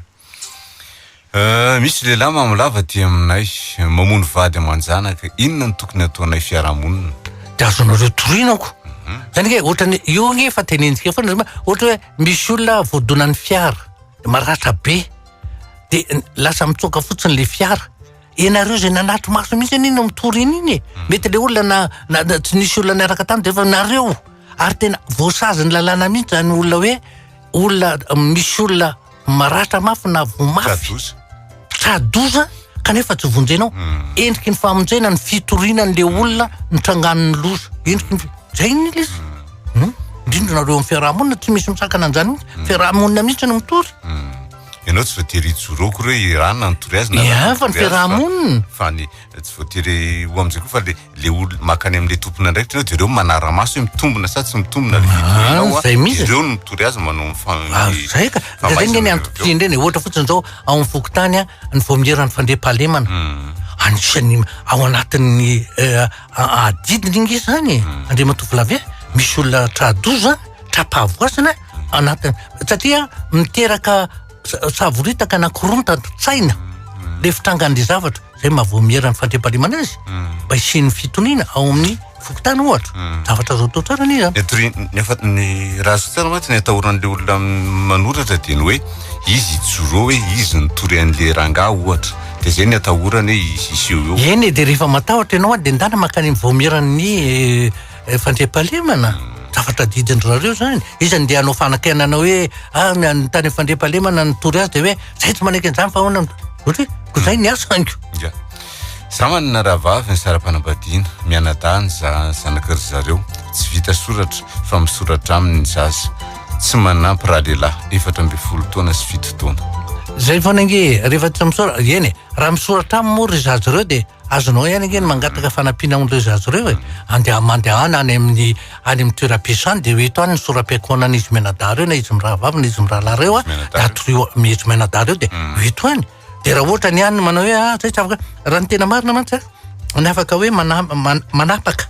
Euh, misy lehilahy mamolava aty aminay, mamono vady aman-janaka, inona no tokony hataonay fiarahamonina? Dia azonareo torinako. Mhm. Zany hoe ohatrany io nge efa tenentsika foana zay ma, ohatra hoe misy olona voadonan'ny fiara, maratra be, dia lasa mitsoaka fotsiny le fiara, ianareo zay nanatri-maso mihitsy anie no mitory an'iny e, mhm. mety le olona na, na, tsy nisy olona niaraka taminy dia efa nareo, ary tena voasazin'ny lalàna mihitsy zany olona hoe olona misy olona maratra mafy na voa mafy tra-doza kanefa tsy vonjenao hmm. endriky ny famonjena ny fitoriana an'le olona nitrangan'ny loza endriky ny zay ny izy hmm. hmm? indrindra nareo amin'ny fiarahamonina tsy misy misakana an'izany mihitsy fiarahamonina mihitsy no mitory ianao tsy voatery hijoroako reo irana nitory azy na fa ny fiarahamonina fa ny Tsy voatery ho amin'izay koa fa le le olona makany amin'ilay tompon'andraikitra ianao dia ireo manara-maso hoe mitombina sa tsy mitombina ilay vidéo ah, ianao a, ireo no mitory azy manao ah, ny zay ka zay ny antom-pisiany ireny e. ohatra fotsiny izao ao amin'ny fokontany a ny voamierany fandriampahalemana hmm. anisan'ny ao anatin'ny eh, adidiny inga izany e. hmm. andriamatoa vilave misy olona tradoza tra-pahavoasana hmm. anatiny satria miteraka savoritaka na korontana tsaina le fitrangan'le zavatra zay mba vao miera ny fandriampahalemana azy hmm. mba hisian'ny fitoniana ao amin'ny fokontany ohatra hmm. zavatra azo atao tsara anie zany etri nefa ny raha azo tsara mantsy ny atahoran'le olona manoratra dia ny hoe izy joro hoe izy nitory an'le rangah ohatra de zay ny atahorany hoe izy iseho eo eny e, de rehefa matahotra ianao a de ndana makany vao mieran'ny eh, Eh, Fandriampahalemana? Zavatra adidin-dry zareo izany. Iza no ndeha hanao fanakianana hoe ah, ny any tany Fandriampahalemana nitory azy dia hoe zay tsy manaiky an'izany fa ahoana? Ohatra hoe, ko zay ny asany. Ya. Za manana rahavavy ny sara-panambadiana, mianadahy ny za- zanaky ry zareo, tsy vita soratra fa misoratra aminy ny zaza, tsy manampy ralehilahy, efatra ambin'ny folo taona sy fito taona. Zay foana ange e, rehefa tsy misaora, eny e, raha misoratra aminy moa ry zaza ireo dia Azonao ihany ange ny mangataka fanampiana amin'ireo zaza ireo e! Andeha mandehana any amin'ny any amin'ny toeram-piso any dia eo eto any ny soram-piankohonan'izy mianadahy ireo na izy mirahavavy na izy mirahalahy ireo a, Mianadahy dia ireo. atoriho am- izy mianadahy ireo dia eo eto any. Dia raha ohatra ny any manao hoe ah zay tsy afaka, raha ny tena marina mantsy a, ny afaka hoe mana- man- manapaka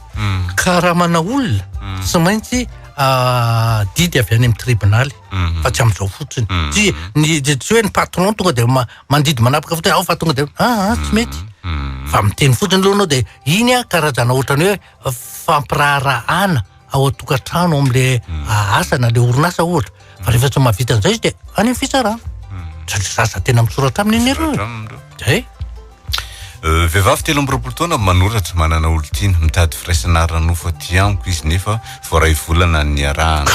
karamana olona tsy maintsy ah, didy avy any amin'ny tribonaly fa tsy amin'izao fotsiny. Tsy ny tsy hoe ny patron tonga dia ma- mandidy manapaka fotsiny ao fa tonga dia ah, ah tsy mety fa miteny fotsiny aloha anao dia iny a karazana ohatrany hoe fampiraharahana ao an-tokantrano amin'le ah, asa na le orinasa ohatra fa rehefa tsy mahavita an'izay izy dia any amin'ny fitsarana satria za za tena misoratra aminy anie ireo zay Euh, vehivavy telo amby roapolo taona manoratra manana olon-tiana mitady firaisana ara-nofo aty amiko izy nefa vao iray volana niarahana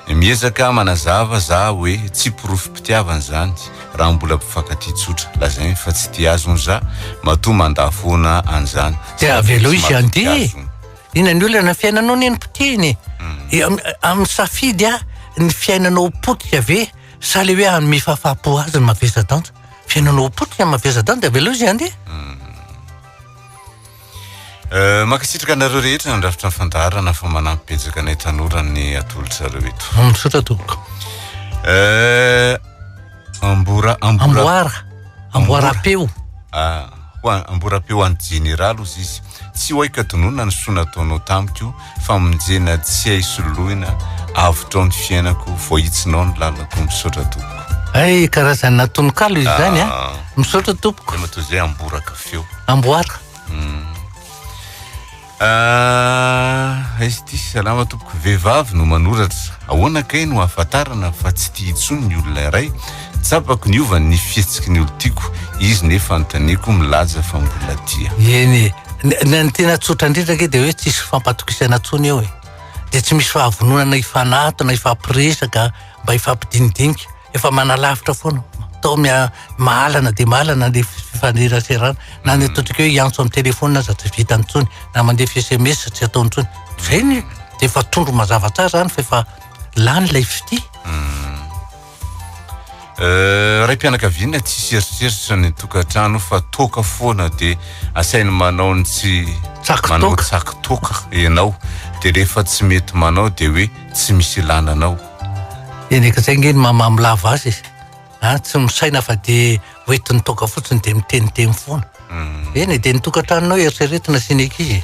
Miezaka manazava za oe tsy porofom-pitiavana zany raha mbola mpifankatia tsotra. Lazainy fa tsy tia azy hono za matoa mandà foana an'izany. Dia avelao izy handeha e! Inona ny olana ny fiainanao anie no potehina e! Amin'ny safidy ny fiainanao ho potika ve sa le hoe hanome fahafahampo azy ny mavesa-danja? Fiainanao ho potika ny mavesa-danja, avelao izy handeha. Eh, mankasitraka anareo rehetra nandrafitra ny fandaharana fa manampy betsaka anay tanora ny atolotrareo eto. Mm, misaotra tompoko. Eh, ambora ambora Amboara. Amboara apeo. Ah, ho an- amboara apeo any jeneraly ozy izy. Tsy hoay ka tononina ny soa nataonao tamiko. Famonjena tsy hay soloina avotrao ny fiainako voahitsinao ny lalako misaotra tompoko. Hay karazana tononkalo izy zany a. Ah. Misaotra tompoko. Dia matoa izay amboraka feo. Amboara. Hmm. Ah, aiza ity salama tompoko vehivavy no manoratra ahoana kay no ahafantarana fa tsy tia intsony ny olona iray Tsapako niova ny fihetsiky ny olon-tiako, izy nefa anontaniako milaza fa mbola tia. Eny e, ny tena tsotra indrindra ange dia hoe tsisy fifampatokisana intsony eo e, dia tsy misy fahavononana hifanatona, hifampiresaka, mba hifampidinidinika, efa manalavitra foana, tao mahalana dia mahalana ny fifaneraserana, na ny ataontsika hoe hiantso amin'ny telefaonina aza tsy vitany intsony, na mandefa sms tsy ataony intsony, izay ny dia efa tondro mazava tsara izany fa efa lany ilay fitia. Euh, raim-pianakaviana tsy hiseritseritra ny tokantrano fa toaka foana dia asainy manao ny tsy manao tsaky toaka ianao dia rehefa tsy mety manao dia hoe tsy misy ilana anao eneka zay nge ny mamamy lava azy izy a ah, tsy misaina fa dia hoentin'ny toaka fotsiny dia miteniteny foana hmm. eny dia ny tokantranonao eritreretina sy ny ankizy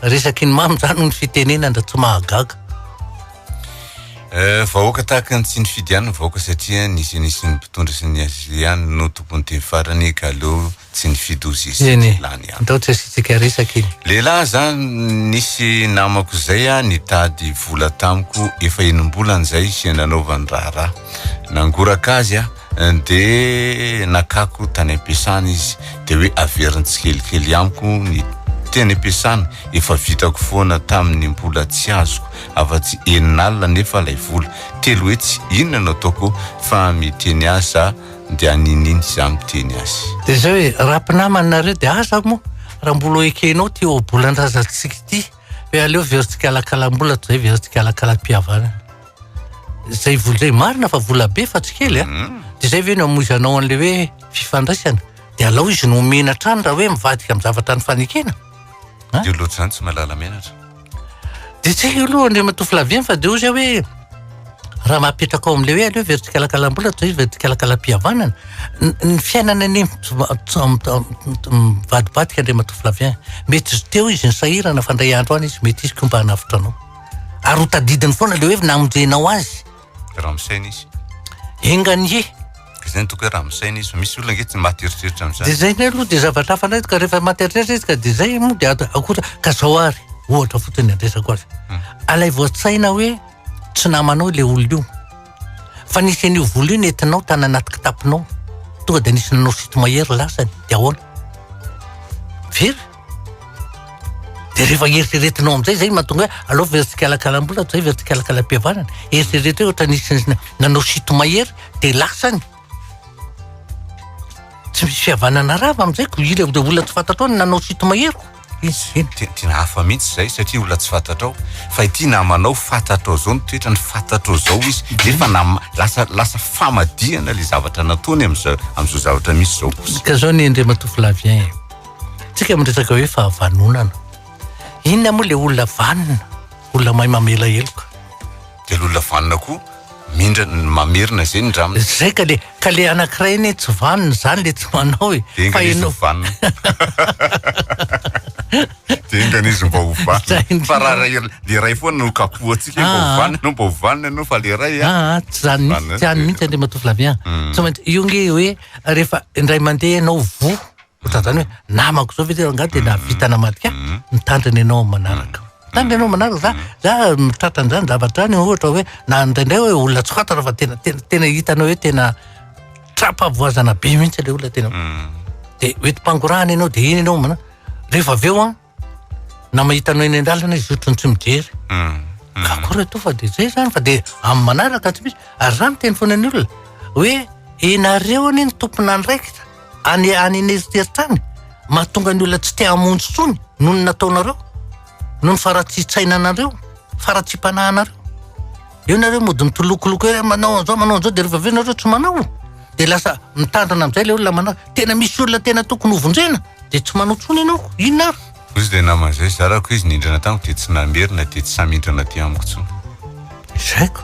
resaky ny mamy zany ny fitenenana tsy mahagaga Eh, vahoaka tahaka ny tsy nifidy ihany ny vahoaka satria ny Génésie-n'ny mpitondra sy ny ACC ihany no tompon'ny teny farany ka aleo tsy nifidy ho zesy Eny e, tsy lany ihany. ndao tsy asiantsika resaka iny. Lehilahy za nisy namako zay a nitady vola tamiko efa enimbolana zay sy nanaovany raharaha nangoraka azy a de nakako tany ampiasana izy de hoe averiny tsikelikely amiko ny teny ampiasana efa vitako foana taminy mbola tsy azoko afa-tsy enina alina anefa ilay vola. Telo hetsy, inona no ataoko fa miteny ahy za dia ninin za miteny azy. Dia izay hoe, raha mpinamana nareo dia aza moa raha mbola ekenao ity ohabolan-drazantsika ity hoe aleo very tsikalakalam-bola toy izay very tsikalakalam-pihavanana. Izay vola izay marina fa vola be fa tsy kely a! Dia izay ve no hamoizanao an'ilay hoe fifandraisana? Dia alao izy no omena hatrany raha hoe mivadika amin'ny zavatra nifanekena. Dia loatra izany tsy mahalala menatra. Dia tsy hay io aloha Andriamatoa Flavien fa dia hoy zay hoe raha maha apetraka ao amin'ilay hoe aleo very tsikalakalam-bola toy izay very tsikalakalam-pihavanana ny ny fiainana anie mivadibadika Andriamatoa Flavien. Mety izy teo izy nisahirana fa indray andro any izy mety hisy koa mba hanavotra anao. Ary ho tadidiny foana ilay hoe namonjenao azy. raha misaina izy enga anie ka izay ny toko hoe raha misaina izy misy olona nge tsy maty eritreritra amin'izany dia zay ny aloha dia zavatra hafa indray ka rehefa maty eritreritra izy ka dia zay moa dia akoatra ka zao ary ohatra fotsiny andresako azy hmm. alay voatsaina hoe tsy namanao ilay olona io fa nisy an'io vola io nentinao tany anaty kitapinao tonga dia nisy nanao sito mahery lasany dia ahoana very Dia rehefa eritreretinao amin'izay izay mahatonga hoe alao very tsikalakalam-bola toy izay very tsikalakalam-pihavanana. Eritrereto hoe ohatra nisy nanao sito mahery dia lasa ny. Tsy misy fihavanana rava amin'izay ko ila dia olona tsy fantatrao no nanao sito mahero. Izy dia tena hafa mihitsy izay satria olona tsy fantatrao. Fa ity namanao fantatrao izao ny toetrany, fantatrao izao izy. Nefa nam- lasa lasa famadihana ilay zavatra nataony amin'izao amin'izao zavatra misy izao kosa. Ka izao ny Andriamatoa Flavien. Tsika miresaka hoe fahavanonana. Inona moa le olona vanona? Olona mahay mamela heloka. De le olona vanona koa mindra mamerina zay ny dramina. Zay ka le ka le anakiray anie tsy vanona zany le tsy manao e. De enga izy ho vanona. De enga izy mba ho vanona. Fa ra ray le ray foana no kapohantsika mba ho vanona enao mba ho vanona enao fa le ray a. Ah tsy zany mintsy tsy any mintsy Andriamatoa Flavien. Tsy maintsy io nge hoe refa indray mande enao voa Ohatran zany hoe namako zao ve ty angaha de nahavita namadika ahy? Mhm. Mitandrina ianao amin'ny manaraka. Mitandrina ianao amin'ny manaraka za za mitratra an'zany zavatra any ohatra hoe na indraindray hoe olona tsokatana fa tena tena tena hitanao hoe tena tra-pahavoazana be mihitsy le olona tena hoe de hoentim-pangorahana ianao de iny ianao mana- rehefa avy eo an na mahitanao eny an-dalana izy otrany tsy mijery mm, mm. ka koa retoa fa dia zay zany fa dia amin'ny manaraka tsy misy ary za miteny foana ny olona hoe enareo anie ny tompon'andraikitra any any aneritreritra any mahatonga ny olona tsy te hamonjy tsony noho ny nataonareo noho ny faratsian-tsainanareo faratsiam-panahinareo Eo nareo mody mitolokoloko eo manao an'izao manao an'izao dia rehefa avy eo nareo tsy manao dia lasa mitandrina amin'izay ilay olona manao. Tena misy olona tena tokony hovonjena dia tsy manao intsony ianao. Inona ary? Ozy ilay namana izay zarako izy nindrana tamiko dia tsy namerina dia tsy samy hindrana aty amiko intsony. Izay ko.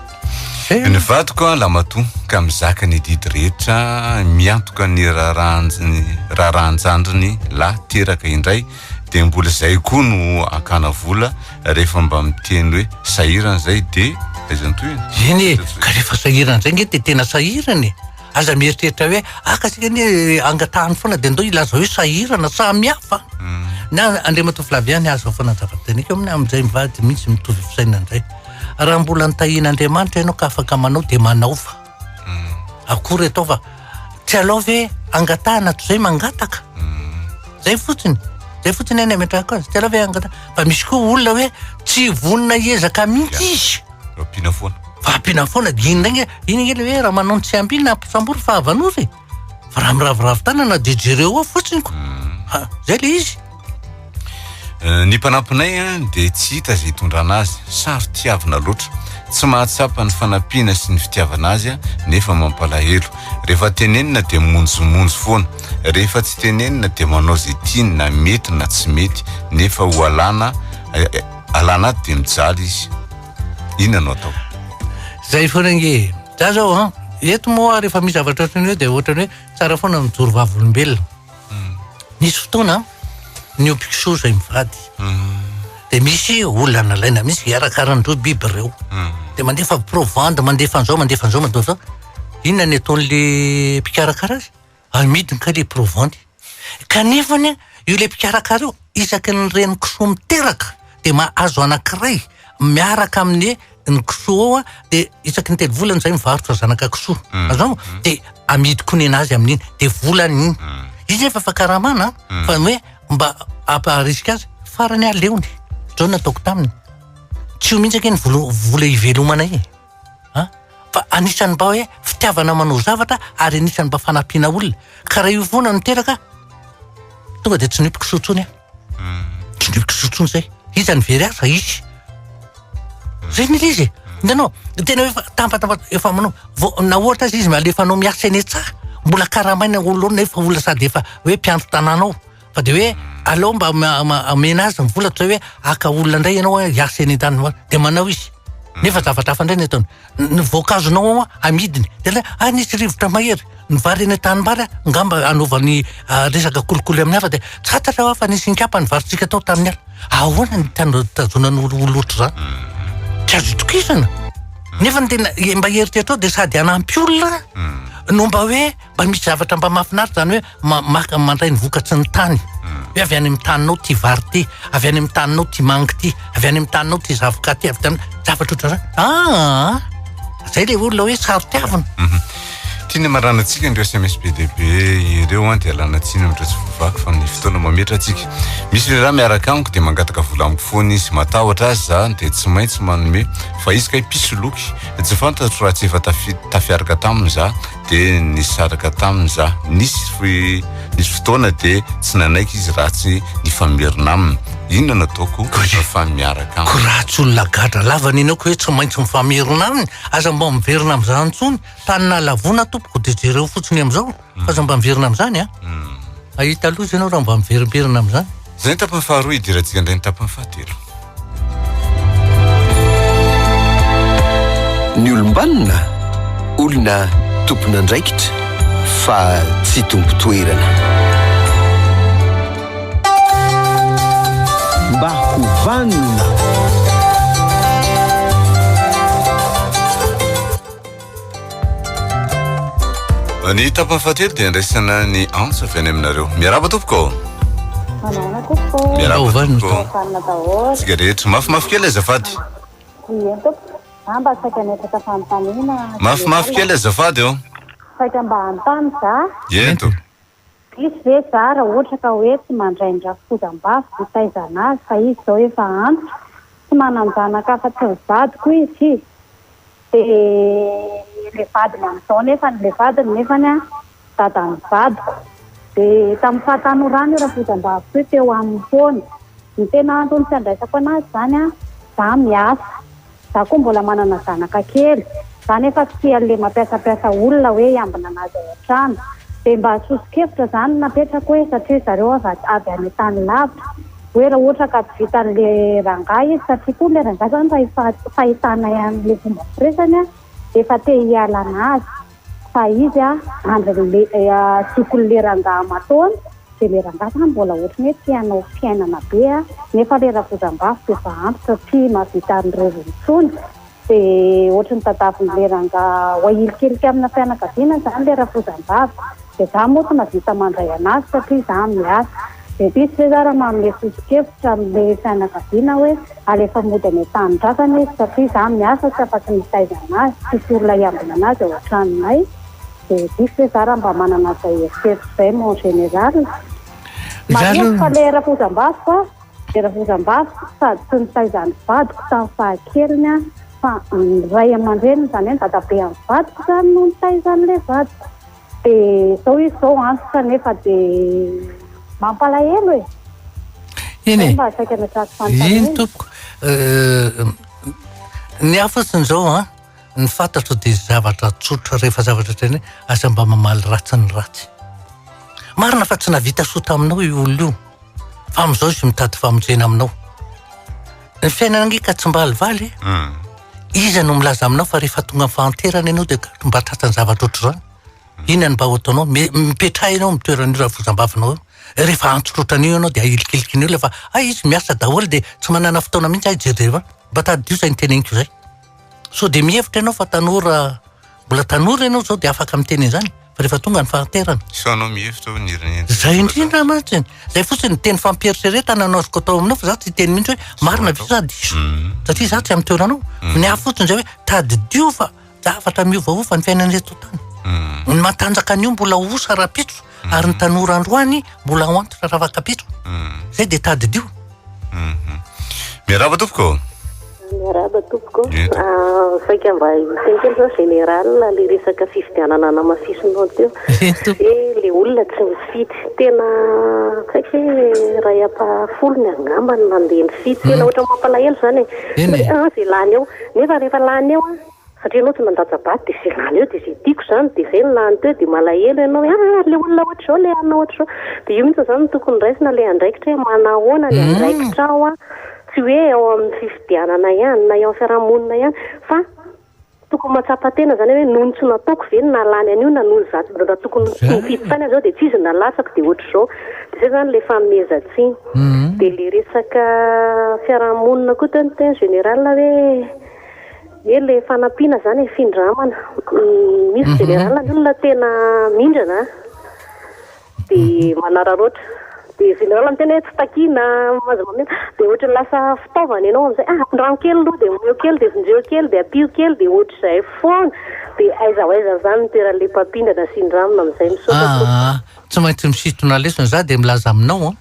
Izay. Ny vadiko an lamatoa ka mizaka ny adidy rehetra miantoka ny raharahan-jandriny lahy teraka indray. de mbola zay koa no akana vola rehefa mba miteny hoe sahirana zay de aiza ny tohiny eny e ka rehefa sahirana zay nge de tena sahirana e aza mieritreritra hoe aka ah, sika anie eh, angatahany foana de ndao ilaza hoe sahirana samy hafa hmm. na andriamatoa flaviany aza foana zava-bitaniko aminy amin'izay mivady mihitsy mitovy fisainana indray raha mbola nitahian'andriamanitra ianao ka afaka manao de manao fa akory atao fa tsy alao ve angatahana toy izay mangataka izay fotsiny izay fotsiny any ametrahako azy tsy alao ve angatahana fa misy koa olona hoe tsy vonona hiezaka mihitsy izy ampiana foana fa ampiana foana dia iny indray iny ange ilay hoe raha manao ny tsy ampiana ampisambory fa avanozy Fa raha miraviravy tanana dia jereo ao fotsiny ko. Mm. Ha, zay le izy. Eh, ny mpanampinay eh, dia tsy hita izay hitondrana azy, saro tiavina loatra. Tsy mahatsapa ny fanampiana sy ny fitiavana azy eh, nefa mampalahelo. Rehefa tenenina dia monjomonjo foana. Rehefa tsy tenenina dia manao izay tiany na mety na tsy mety, nefa ho alana eh, eh, alana ato dia mijaly izy. Inona no atao? Zay foana nge. Za zao an, eto moa rehefa misy zavatra ohatran'ny hoe dia ohatran'ny hoe tsara foana mijoro vavolombelona. Hmm. Nisy fotoana ny obiko soa izay mivady. Hmm. Dia misy olana laina misy hiarakaran'ireo biby ireo. Hmm. Dia mandefa provandy, mandefa an'izao, mandefa an'izao, mandefa an'izao. Inona ny ataon'ilay mpikarakara azy? Amidy kay le provanty. Kanefa anie io le mpikarakara io isaky ny reny kisoa miteraka de mahazo anankiray miaraka amin'ny ny kisoa ao de isaky ny telo volana izay mivarotra zanaka kisoa mm. azao mm. de amidy koa nenazy amin'iny de volany iny mm. izy efa fa karamana fa hoe mba ampaharisika azy farany aleony zao nataoko taminy tsy ho mihitsy ake ny vola ivelomana e An! Fa anisan'ny mba hoe fitiavana manao zavatra ary anisan'ny mba fanampiana olona. Ka raha io foana no teraka, tonga dia tsy nipy kisoa intsony aho. Hmm. Tsy nipy kisoa intsony izay. Iza no very ahy fa izy. Zay ny izy. Hitanao, tena hoe tambatamba efa manao vao na ohatra aza izy malefanao miasa eny an-tsaha, mbola karamaina olona ao nefa olona sady efa hoe mpiandry tanàna ao. Fa dia hoe aleo mba amena azy ny vola toy izay hoe haka olona indray ianao hoe hiasa eny an-tanimbary. Dia manao izy. Hmm. Nefa zavatra hafa indray ny ataony. Ny voankazonao amidiny. Dia ilay ah nisy rivotra mahery. Ny vary eny an-tanimbary ah, ngamba anaovany ah, resaka kolikoly amin'ny hafa dia tsy fantatra fa nisy inkapa ny varintsika tao tamin'ny hafa. Ahoana ny tazonan'ny olona ohatr'izany? Hmm. Tsy azo itokisana. Hmm. Nefa ny tena mba heritreritra ao dia sady hanampy olona no mba hoe mba misy zavatra mba mahafinaritra izany hoe ma- maka mandray ny vokatry ny tany hoe avy any amin'ny taninao ty vary ty avy any amin'ny taninao ty mangy ty avy any amin'ny taninao ty zavoka ty avy tany zavatra ohatrany aa zay le olona hoe sarotiavina Tiana marana antsika ireo SMS be dia be ireo an dia lana tsiny amin'ireo tsy voavaky fa ny fotoana mametra antsika. Misy le raha miaraka amiko dia mangataka vola amiko foana izy. Matahotra azy za dia tsy maintsy manome fa izy kay mpisoloky. Tsy fantatro raha tsy efa tafi- tafiaraka taminy za. dia nisaraka taminy za. Nisy nisy fotoana dia tsy nanaiky izy raha tsy nifamerina aminy. Inona no ataoko fa miaraka aminy? Ko raha tsy olona gadra lava ny anao ko hoe tsy maintsy mifamerina aminy, aza mba miverina amin'izany intsony. Tany nahalavoana tompoko dia jereo fotsiny amin'izao. Fa aza mba miverina amin'izany an! Hahita loza ianao raha mba miverimberina amin'izany. Izay ny tapany faharoa, hidirantsika indray ny tapany fahatelo. Ny olom-banona, olona tompon'andraikitra fa tsy tompon-toerana. Mba ho vanona. Ny tapany fahatelo dia andraisana ny antso avy any aminareo. Miarahaba tompoko. Manahoana tompoko. Miarahaba tompoko. Fanina daholo. Tsika rehetra. Mafimafy kely azafady. Ie tompoko. Za mba saika miatraka fanontaniana. Mafimafy kely azafady o. Saika mba hanontany za. Ento. Diso ve zah raha ohatra ka hoe tsy mandray ny rafozambavy ho taizana azy fa izy izao efa antitra, tsy manan-janaka afa-tsy ny vadiko izy, dia ilay vadiny amin'izao nefany ilay vadiny nefany an, dadan'ny vadiko, dia tamin'ny fahatanorany io rafozambaviko io teo aminy foana, ny tena antony tsy handraisako an'azy izany an, zah miasa. Za koa mbola manana zanaka kely, za nefa tsy tia anle mampiasampiasa olona hoe hiambina anazy ao antrano, de mba sosokevitra zany no napetrako hoe satria zareo avy avy any tany lavitra, hoe ra ohatra ka tsy vitanle rangahy izy, satria koa le rangahy zany raha efa fahitanay anle fomba firesany a, de efa te hiala anazy. Fa izy a andry le tokony le rangaha matoany de le rangaha zany mbola ohatry ny hoe te hanao fiainana be a nefa le ravozambavy de efa ampy satria mahavita an'ireo intsony de ohatry ny tadaviny le rangaha wahilikilika amina fianakaviana zany le ravozambavy de za moa tsy mahavita mandray anazy satria za miasa Bebisy ve za raha manome soso-kevitra amin'ilay fianakaviana hoe alefa mody any an-tanindrazana izy satria za miasa tsy afa-tsy mitaiza an'azy, tsisy olona hiambina an'azy ao an-tranonay? Bebisy ve za raha mba manana izay eritreritra izay mon général? Marihiko fa ilay rafozambaviko a, ilay rafozambaviko sady tsy nitaiza an'ny vadiko tamin'ny fahakeliny aho fa ny ray aman-dreniny izany hoe ny dadabe an'ny vadiko izany no nitaiza an'ilay vadiko. Dia izao izy izao antitra nefa dia mampalahelo e! Eny e! Mba saika natraty fanontaniana. Eny tompoko. Ny hafa siny izao an, ny fantatro dia zavatra tsotra rehefa zavatra tena aza mba mamaly ratsy ny ratsy. Marina fa tsy nahavita soa taminao io olona io fa amin'izao izy mitady famonjena aminao. Ny fiainana ange ka tsy mba alivaly e! Hmm. Iza no milaza aminao fa rehefa tonga amin'ny fahanterana ianao dia gaga mba tratran'ny zavatra ohatr'izany? Hmm. Inona no mba ho ataonao? Mi- Mipetraha ianao amin'ny toeran'io rafozambavinao io. Rehefa antso loatra an'io ianao dia ahilikiliky ny olona fa hay izy miasa daholo dia tsy manana fotoana mihitsy hay hijery deba. Mba tadidio izay noteneniko izay. Sao dia mihevitra ianao fa tanora, mbola tanora ianao izao dia afaka miteny an'izany fa rehefa tonga ny fahanterana. Sao anao mihevitra hoe nirin'ny Izay indrindra mantsy. Izay fotsiny ny teny fampieritreretana no azoko atao aminao fa za tsy hiteny mihitsy hoe marina ve sa diso. Mm. Satria za tsy amin'ny toeranao. Mm. Ny ahy fotsiny izay hoe tadidio fa zavatra miovaova ny fiainan'ireto tany. Mm. Ny matanjaka anio mbola osa rahampitso. ary ny tanora androany mbola ao antitra ravakabetro mm. zay dia tadidio mm-hmm. miaraba tompoko miaraba tompoko ah, saika mba hisenkely zao général le resaka fifidianana namafisinao teo e le olona tsy mifidy tena saika hoe ray ampahafolo ny angamba ny nandeha nifidy tena mm. ohatra mampalahelo zany e. eh, eh. ah, zay lany eo nefa rehefa lany eo a Satria ianao tsy mandatsa-bato dia izay lany eo dia izay tiako izany dia izay no lany teo dia malahelo ianao hoe ah ary ilay olona ohatr'izao ilay anona ohatr'izao. Dia io mihitsy izany no tokony raisina ilay andraikitra hoe manahoana ny andraikitrao an, tsy hoe eo amin'ny fifidianana ihany na eo amin'ny fiarahamonina ihany fa tokony mahatsapa tena izany hoe noho ny tsy nataoko ve no nahalany an'io na noho ny za raha tokony tsy nifidy tany aho izao dia tsy izy no nalatsako dia ohatr'izao. Dia izay izany ilay fanomezan-tsiny. Dia ilay resaka fiarahamonina koa teo ny teny général hoe. Dia ilay fanampiana izany hifindramana. Ny misy generala ny olona tena mindrana an, dia manararaotra. Dia generala ny tena hoe tsy takiana, aza mamindra. Dia ohatran'ny lasa fitaovana ianao amin'izay, ah ampindrano kely aloha, dia omeo kely, dia vonjeo kely, dia ampio kely, dia ohatr'izay foana. Dia aiza ho aiza amin'izany no toeran'ilay mpampindrana sy indramina amin'izay. Misaotra tompoko. Aa, tsy maintsy misintona lesona za dia milaza aminao an.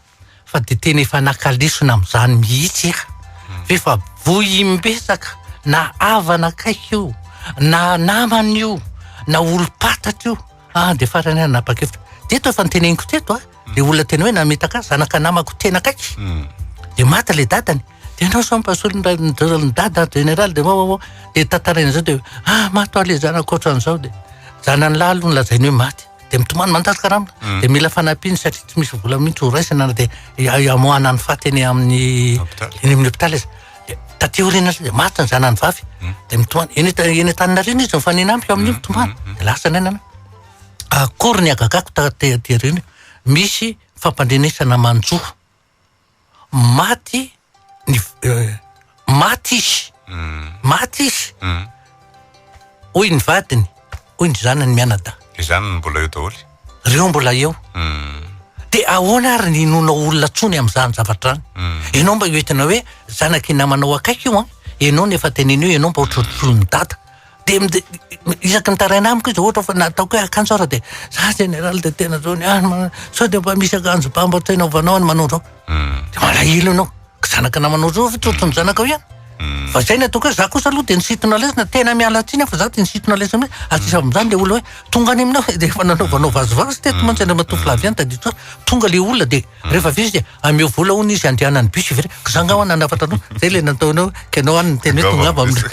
fa dia tena efa naka lesona amin'izany mihitsy aho. Hmm. F'efa vohim-betsaka na havana akaiky io, na namana io, na olom-patatra io. Ah, dia farany aho nanapa-kevitra. Teto efa niteneniko teto, ah. Hmm. Dia olona tena hoe namitaka zanaka namako tena akaiky. Hmm. Dia maty le dadany. Dia ianao sao mpasolo ny dada général dia vaovao. Dia tantaraina izao dia ah, maty le zanako ohatran'izao dia zanany lahy aloha nolazainy hoe maty. dia mitomany mandatsy karama mm. dia mila fanampiany satria tsy misy vola mihitsy horaisana na dia amoahana ny faty eny amin'ny eny amin'ny hôpital izy dia taty orina izy dia maty ny zanany vavy mm. dia mitomany eny eny an-tanina reny izy mifanena amiko amin'io mm, mitomany dia lasa ny ainana akory ny agagako taty reny misy fampandrenesana manjoa maty ny maty izy maty izy hoy ny vadiny hoy ny zanany mianadahy izany no mbola eo daholo reo mbola eo de ahoana ary ny inoana olona tsony amin'izany zavatra any ianao mba hoentina hoe zanak'i namanao akaiky io an ianao no efa tenenio ianao mba hotrotroin'ny dada Dia isaky ny taraina amiko izy ohatra fa nataoko hoe akanjo ary dia za jeneraly dia tena zao ny ahy sao dia mba misy akanjo ba mba tsy hanaovanao any manao zao. Hmm. Dia malahelo ianao. Ka zanaka namanao zao ve tsotro ny zanakao ihany? Hmm. Fa izay ny ataoko hoe za kosa aloha dia nisintona lesona tena miala tsiny fa za dia nisintona lesona hoe ary sisa amin'izany ilay olona hoe tonga any aminao dia efa nanaovanao vazivazy teto mantsy andriamatoa Flavien tadidio tsara tonga ilay olona dia Rehefa avy eo izy dia ameo vola hono izy handehanan'ny bus ivery. Ka za ngah ho'a nanafatra anao. Zay le nataony hoe ka ianao any niteny hoe tongava amin'ny.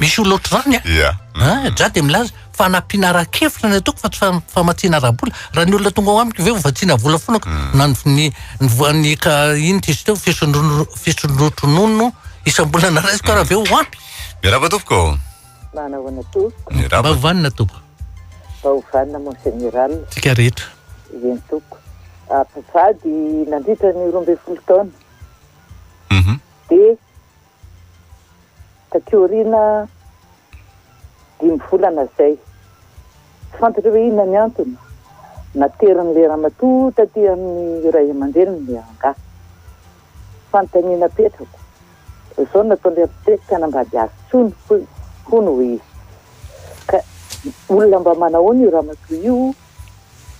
Misy olona ohatr'izany an! Ia. An! Za dia milaza, fanampiana ara-kevitra no ataoko fa tsy famatsiana ara-bola. Raha ny olona tonga ao amiko ve ho vatsiana vola foana ko na ny ny ka inona izy teo fisondronono isam-bolana raisiko ary avy eo ho ampy. Miarahaba tompoko. Manao ahoana tompoko? Ny rava. Mba ovanina tompoko. Mba ovanina mon général. Tsika rehetra. Eny tompoko. Ah, mpivady nandritra ny roa ambin'ny folo taona. Mhm. Dia taty aoriana dimy volana izay. Tsy fantatrao ve inona ny antony? Naterin'ilay ramatoa taty amin'ny ray aman-dreniny angaha. Fanontaniana apetrako, izao no nataon'ilay architecte tsy hanambady azy intsony hoy, hono hoy izy. Ka olona mba manahoana io ramatoa io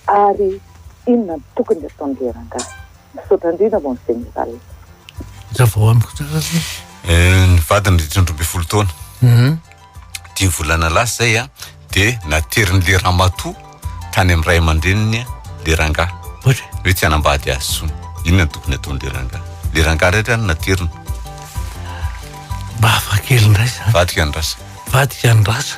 ary inona no tokony hataon'ilay rangahy? Misaotra indrindra mon général. Ravao amiko tsara aloha. Ny vadiny dimy ambin'ny folo taona. dimy volana lasa zay a, de naterin'le ramatoa tany amin'ny ray aman-dreniny le rangahy, hoe tsy hanambady azy intsony, inona no tokony hataon'le rangahy? le rangahy ray zany naterina. Mba hafa kely indray zany. Vadiko andrasa. Vadiko andrasa.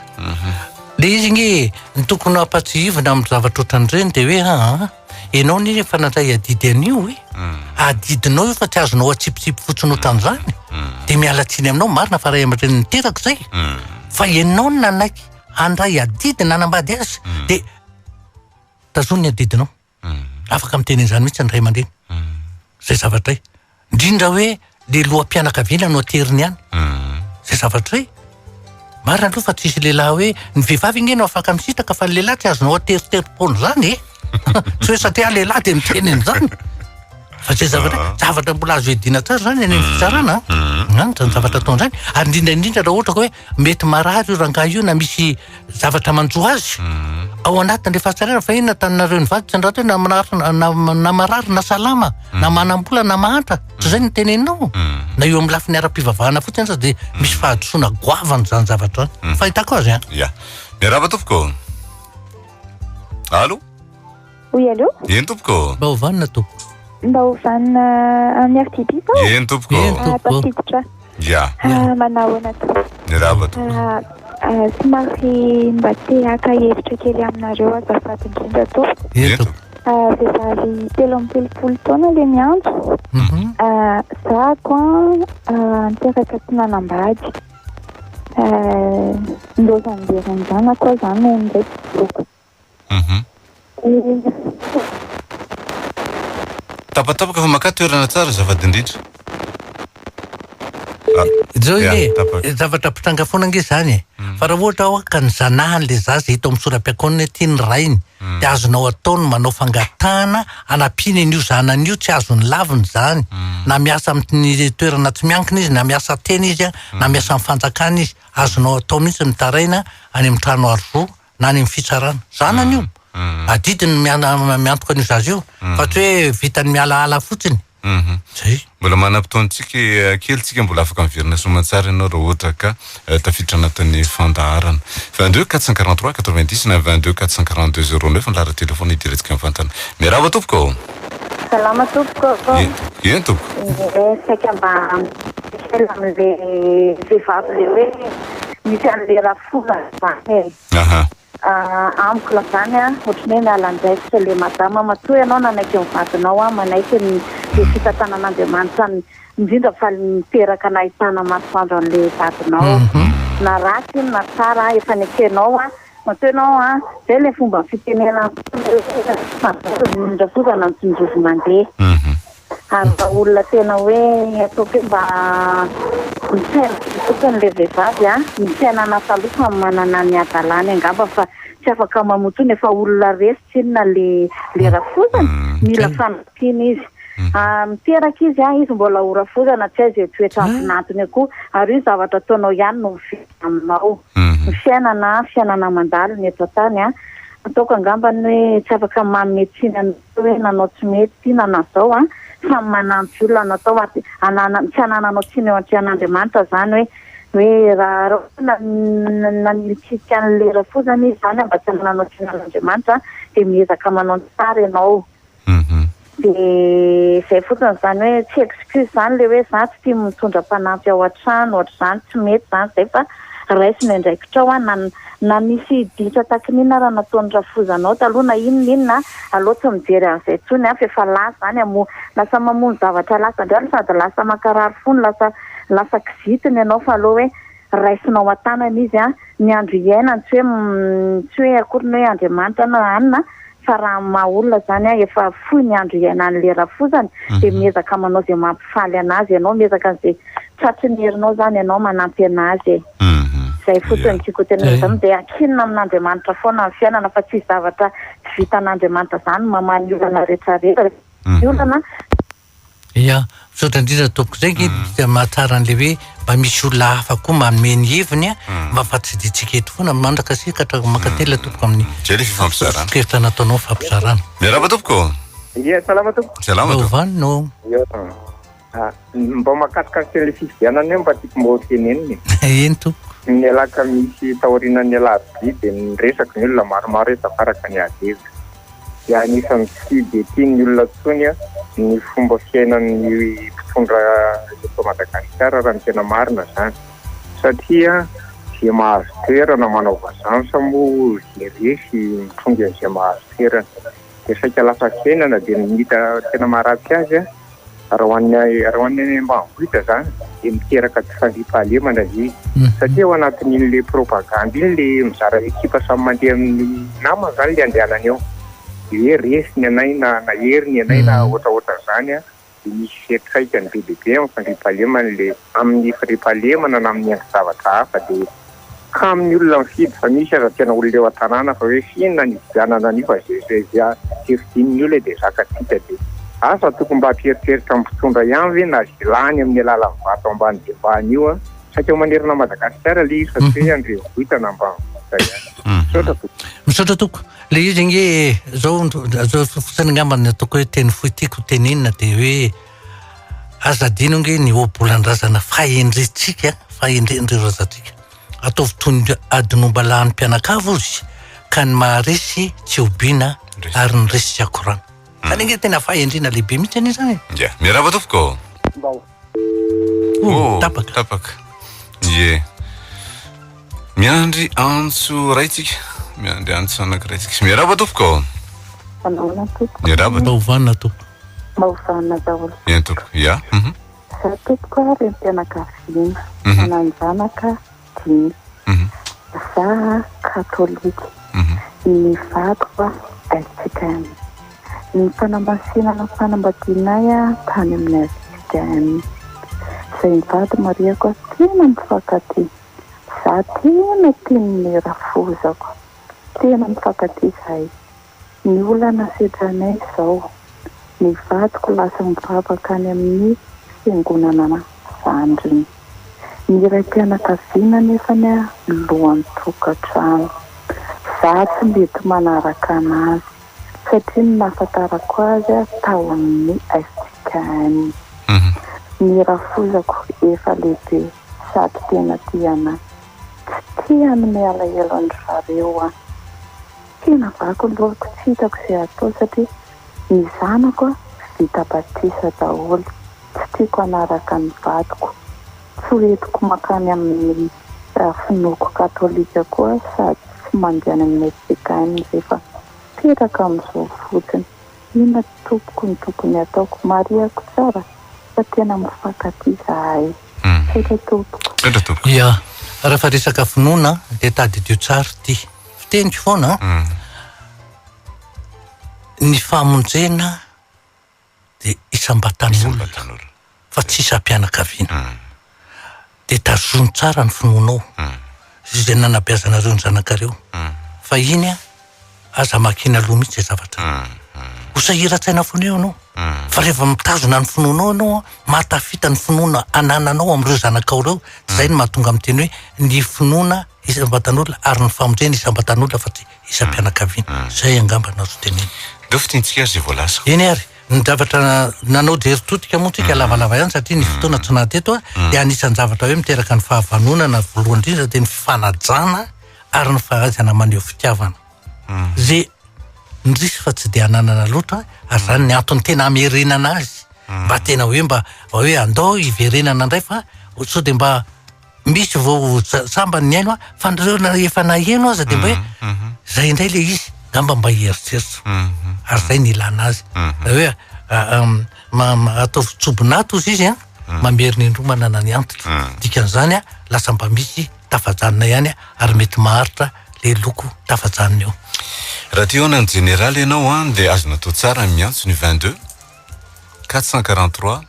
Le izy nge ny tokony hampatsiahivina amin'ny zavatra ohatran'ireny de hoe aa. Ianao anie efa nandray adidy an'io e. Hmm. Adidinao io fa tsy azonao atsipitsipy fotsiny ohatran'izany. Hmm. Dia miala tsiny aminao, marina fa ray aman-dreny niteraka izay. Hmm. Fa ianao no nanaiky handray adidy nanambady azy dia tazony ny adidinao. Afaka miteny an'izany mihitsy ny ray aman-dreny. Izay zavatra izay. Indrindra hoe le loham-pianakaviana no ateriny any. Zay zavatra hoe marina aloha fa tsisy lehilahy hoe ny vehivavy ange no afaka misitraka fa ny lehilahy tsy azonao ateriterim-poana izany e. Tsy hoe satria aho lehilahy dia miteny an'izany. Fa zay zavatra hoe zavatra mbola azo iadiana tsara izany any amin'ny fitsarana. Izany izany zavatra ataony izany. Ary indrindra indrindra raha ohatra ka hoe mety marary io rangahy io na misy zavatra manjo azy mhm. ao anatin'le fahatsarana fa inona taninareo ny vady tsy andrato na na marary na salama mhm. na manambola na mahantra tsy zay ny mhm. teneninao na eo amin'ny lafiny ara-pivavahana fotsiny aza dia misy fahadisoana goavana zany zavatra fahitako azy a ya miarahaba tompoko alo Oui, allô? Eny tompoko. Mba ho vanona tompoko. Mba ho vanona amin'ny RTP sao? Eny tompoko. Eny tompoko. Ah, tafiditra. Ya. Ah, manao ahoana tompoko? Mirava tompoko. Ah, ah, somary mba te haka hevitra kely aminareo azafady indrindra tompoko. Eny tompoko. Ah, vehivavy telo amby telopolo taona le miantso. Mhm. Ah, zako an, ah, niteraka tsy nanambady. Ah, nilaozan'ny beran'ny zanako aho zany nony indray tsy voako. Mhm. Tapatapaka fa makà toerana tsara azafady indrindra. Zao Ya, anie, tapaka. zavatra mitranga foana ange zany e. Fa raha ohatra hoa ka ny zanahan'le zaza hita ao amin'ny sora-piakaonana ety ny rainy dia azonao atao ny manao fangatahana hanampiany an'io zanany io tsy azony lavina izany na miasa amin'ny toerana tsy miankina izy na miasa tena izy na miasa amin'ny fanjakana izy. Azonao atao mihitsy mitaraina any amin'ny trano aro-zo na any amin'ny fitsarana. Zanany io. Adidiny ny miantoka an'io zaza io. Fa tsy hoe vitany mialaala fotsiny. Mhm. Zay. Mbola manam-potoantsika eh, kely tsika mbola afaka miverina soamantsara ianao raha ohatra ka eh, tafiditra anatin'ny fandaharana 22 443 90 na 22 442 09 ny laharan'ny telefona idirantsika mivantana miarahaba tompoko ao Salama tompoko. Ye- eny tompoko Eh, saika mba misaina amin'ilay vehivavy ilay hoe misy an'ilay raha Fona zany e. Aha. Ah, amiko la zany an, ohatry ny hoe miala andraikitra le madama, matoa ianao nanaiky ny vadinao an, manaiky ny le fitantanan'Andriamanitra ny indrindra fa le niteraka nahitana masoandro anle vadinao na ratsy iny na tsara an, efa nekenao an, matoa ianao an, zay le fomba fitenenan'tena hoe, tsy fandoto ny indra foza na ny tsinjovy mandeha. ary raha olona tena hoe ataoko hoe mba misaina be fotsiny ilay vehivavy an, ny fiainana taloha samy manana ny hadalany angamba fa tsy afaka mamoa intsony, efa olona resy tsinona ilay rafozana, mila fanampiana izy, miteraka izy an, izy mbola ho rafozana tsy hay izay toetra antinantiny eo koa, ary io zavatra ataonao ihany no miverina aminao, ny fiainana an, fiainana mandalo ny eto an-tany an, ataoko angambany hoe tsy afaka manome tsiny an'olona. Tsy hoe nanao tsy mety ity na nanao izao an! Samy manampy olona anao tao an! Anananao, tsy anananao tsiny eo antrehan'Andriamanitra izany hoe, hoe raha ohatra hoe nanilitsilika an'ilay rafozana izy izany an, mba tsy anananao tsiny an'Andriamanitra an, dia miezaka manao ny tsara ianao. Dia izay fotsiny izany hoe, tsy excuse izany ilay hoe za tsy tia mitondra mpanampy ao an-trano, ohatr'izany, tsy mety izany izay fa. raiso ny andraikitrao a, na na misy dinitra takin'inona ary nataon'i Rafoza anao taloha na inona na inona a, aleo tsy mijery an'izay intsony a, f'efa lasa izany a, moa lasa mamono zavatra lasa indray no sady lasa mankarary fo no lasa lasa kizitina ianao fa aleo hoe raisina ao an-tanana izy a, ny andro iainana tsy hoe tsy hoe akory ny hoe Andriamanitra na anona fa raha amin'ny maha olona izany efa fohy ny andro iainany le rafozana dia miezaka manao izay mampifaly anazy ianao, miezaka an'izay tratry ny herinao izany ianao manampy anazy e! izay fotsiny no tiako hotenenana avy aminao, dia ankinina amin'Andriamanitra foana ny fiainana fa tsisy zavatra tsy vitan'Andriamanitra izany, mamaha ny olana rehetra rehetra ny olana. Ya, misaotra indrindra tompoko zay nge dia mahatsara an'le hoe mba misy olona hafa koa manome ny heviny a, mba ampatsidintsika eto foana, mandrakasika hatrany mankatelina tompoko amin'ny Zay le fifampizarana. sosokeritra nataonao fampizarana. Miarahaba tompoko. Ye, salama tompoko. Salama tompoko. Vanona o. Yo. Ah, mba mahakasikasika an'le fifidianana io mba tiako mba ho tenenina e. Eny tompoko. Ny ialahy ka misy taorianan'ny ialahy vy dia ny resaka ny olona maromaro efa faraka ny ady hevitra. dia anisan'ny tsy dia tian'ny olona intsony ny fomba fiainan'ny mpitondra eto Madagasikara raha ny tena marina izany satria dia mahazo toerana manao vazansa moa dia resy mitrongy an'izay mahazo toerana dia saika lafa fiainana dia ny hita tena maharatsy azy Raha ho an'ny raha ho an'ny any ambanivohitra izany dia miteraka tsy fandriampahalemana ilay izy satria ao anatin'ilay propagandy iny ilay mizara ekipa samy mandeha amin'ny namany izany ilay andehanany ao. Dia hoe resy ny anay na nahery ny anay na ohatraohatran'izany an, dia misy fiantraikany be dia be amin'ny fandriampahalemana ilay amin'ny fandriampahalemana na amin'ny endri-javatra hafa dia kamo ny olona mifidy fa misy aza tena olona eo an-tanàna fa hoe f'inona ny hividianana an'io fa ze hevi-din'ny olona dia zakatsika dia asa tokony mba hampieritreritra ny mpitondra ihany ve na ze lany amin'ny alalan'ny vato ambany dia ambany io an! saika ho manerana Madagasikara ilay izy fa tsy hoe an-drenivohitra na ambanivohitra ihany. Misaotra tompoko. Misaotra tompoko. Ilay izy ange zao, zao fotsiny angamba no ataoko hoe teny fohy tiako ho tenenina dia hoe. Aza adino ange ny ohabolan-drazana fahendrentsika, fahendren'ireo razantsika. Ataovy toy ny adinoam-balahan'ny mpianakavy ozy ka ny maharesy tsy hobiana ary ny resy tsy hakorana. Zany ange tena fahendrena lehibe mihitsy anie zany e. Ia, miarahaba tompoko. Mba ho. Oh, tapaka. Tapaka. Ie. Miandry antso iray tsika. Miandry antso anankiray tsika. Miarahaba tompoko. Manahoana tompoko. Miarahaba. Maovana tompoko. Maovana daholo. Eny tompoko. Ya. Mhm. Za tompoko ary ny fianakaviana. Mhm. Manan-janaka dimy. Mhm. Za katolika. Mhm. Ny vadiko SJKM. Ny fanamasinana ny fanambadianay tany amin'ny SJKM. Izay ny vady marihako azy tena mifankatia. Za tena tiany ny rafozako. Tena mifankatia zahay. Ny olana setranay zao, ny vadiko lasa mivavaka any amin'ny fiangonana zandriny. Ny raim-pianakaviana nefany lohan-tokantrano. Za tsy mety manaraka anazy satria ny nahafantarako azy tao amin'ny SJKM. Ny rafozako efa lehibe. sady tena tia anay. Tsy tia hanome alahelo an-dry zareo aho. Tena vaky loroko tsy hitako izay hatao satria ny zanako vita batisa daholo. Tsy tiako hanaraka ny vadiko. Tsy ho entiko mankany amin'ny finoako katolika koa sady tsy mandeha any amin'ny SPKM izay fa mipetraka amin'izao fotsiny. Inona tompoko no tokony hataoko? Marihako tsara fa tena mifankatia izahay. Tsaitra tompoko. Tsaitra tompoko. Ia, raha fa resaka finoana dia tadidio tsara ity fiteniko foana an. Ny famonjena dia isam-batan'olona fa tsy isam-pianakaviana. Dia tazono tsara ny finoanao sy izay nanabeazanareo ny zanakareo fa iny an. Aza makina loha mihitsy izay zavatra izay. Ho sahiran-tsaina foana eo ianao. Fa rehefa mitazona ny finoanao ianao an, mahatafita ny finoana anananao amin'ireo zanakao ireo, izay no mahatonga amin'ny teny hoe ny finoana isam-batan'olona ary ny famonjena isam-batan'olona fa tsy isam-pianakaviana. Izay angamba no azo tenenina. Aleo fintinitsika ary izay voalaza. Eny ary, ny zavatra nanao jery todika moa tsika lavalava ihany satria ny fotoana tsy naha teto an, dia anisan-javatra hoe miteraka ny fahavanonana voalohany indrindra dia ny fifanajana, ary ny fahaizana maneho fitiavana ze ndrisy fa tsy de ananana loatra ary zany ny antony tena amerenana azy mba tena hoe mba hoe andao hiverenana indray fa sao de mba misy vao sambany ny aino fa ndreo na efa naheno aza de mba hoe mhm, mhm. zay indray le izy ngamba mba hieritreritra mhm, ary zay ny ilana azy hoe ataovy tsobinato izy izy a mamery ny indroa manana ny antitra dikan'izany a lasa mba misy tafajanona ihany ary mety maharitra le loko tafajanona io. Raha te hihaona ny jeneraly ianao an dia azo natao tsara ny miantso ny vingt deux, quatre cent quarante trois,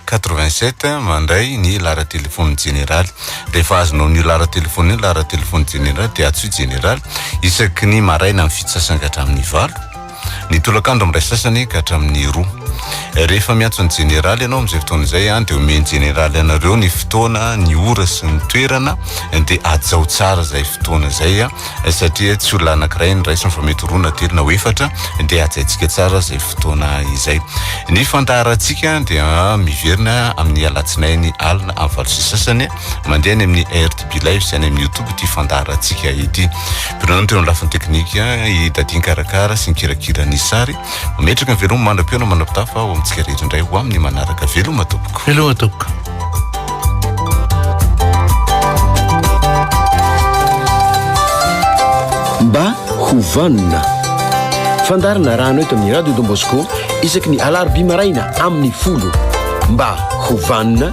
quatre vingt sept mandray ny lahara telefon'ny jeneraly. Rehefa azonao an'io lahara telefona io ny lahara telefon'ny jeneraly dia antsoy jeneraly isaky ny maraina amin'ny fito sasany ka hatramin'ny valo. Ny tolakandro amin'ny iray sasany ka hatramin'ny roa. Rehefa miantso ny jeneraly ianao amin'izay fotoana izay an, dia omen'ny jeneraly anareo ny fotoana, ny ora sy ny toerana, dia hajao tsara izay fotoana izay an, satria tsy olona anankiray no raisiny fa mety roa na telo na ho efatra, dia hajaintsika tsara izay fotoana izay. Ny fandaharantsika dia miverina amin'ny alatsinainy alina amin'ny valo sy sasany mandeha any amin'ny. Be Live sy any amin'ny YouTube ity fandaharantsika ity. Mpironana teo amin'ny lafiny teknika i Daddy nikarakara sy nikirakira ny sary. Mametraka ny veloma manam-peo na manam-pitafo aho amintsika rehetra indray ho amin'ny manaraka. Veloma tompoko. Veloma tompoko. Mba ho vanona. Fandarina raha anao eto amin'ny Radio Don Bosco isaky ny alarobia maraina amin'ny folo. Mba ho vanona.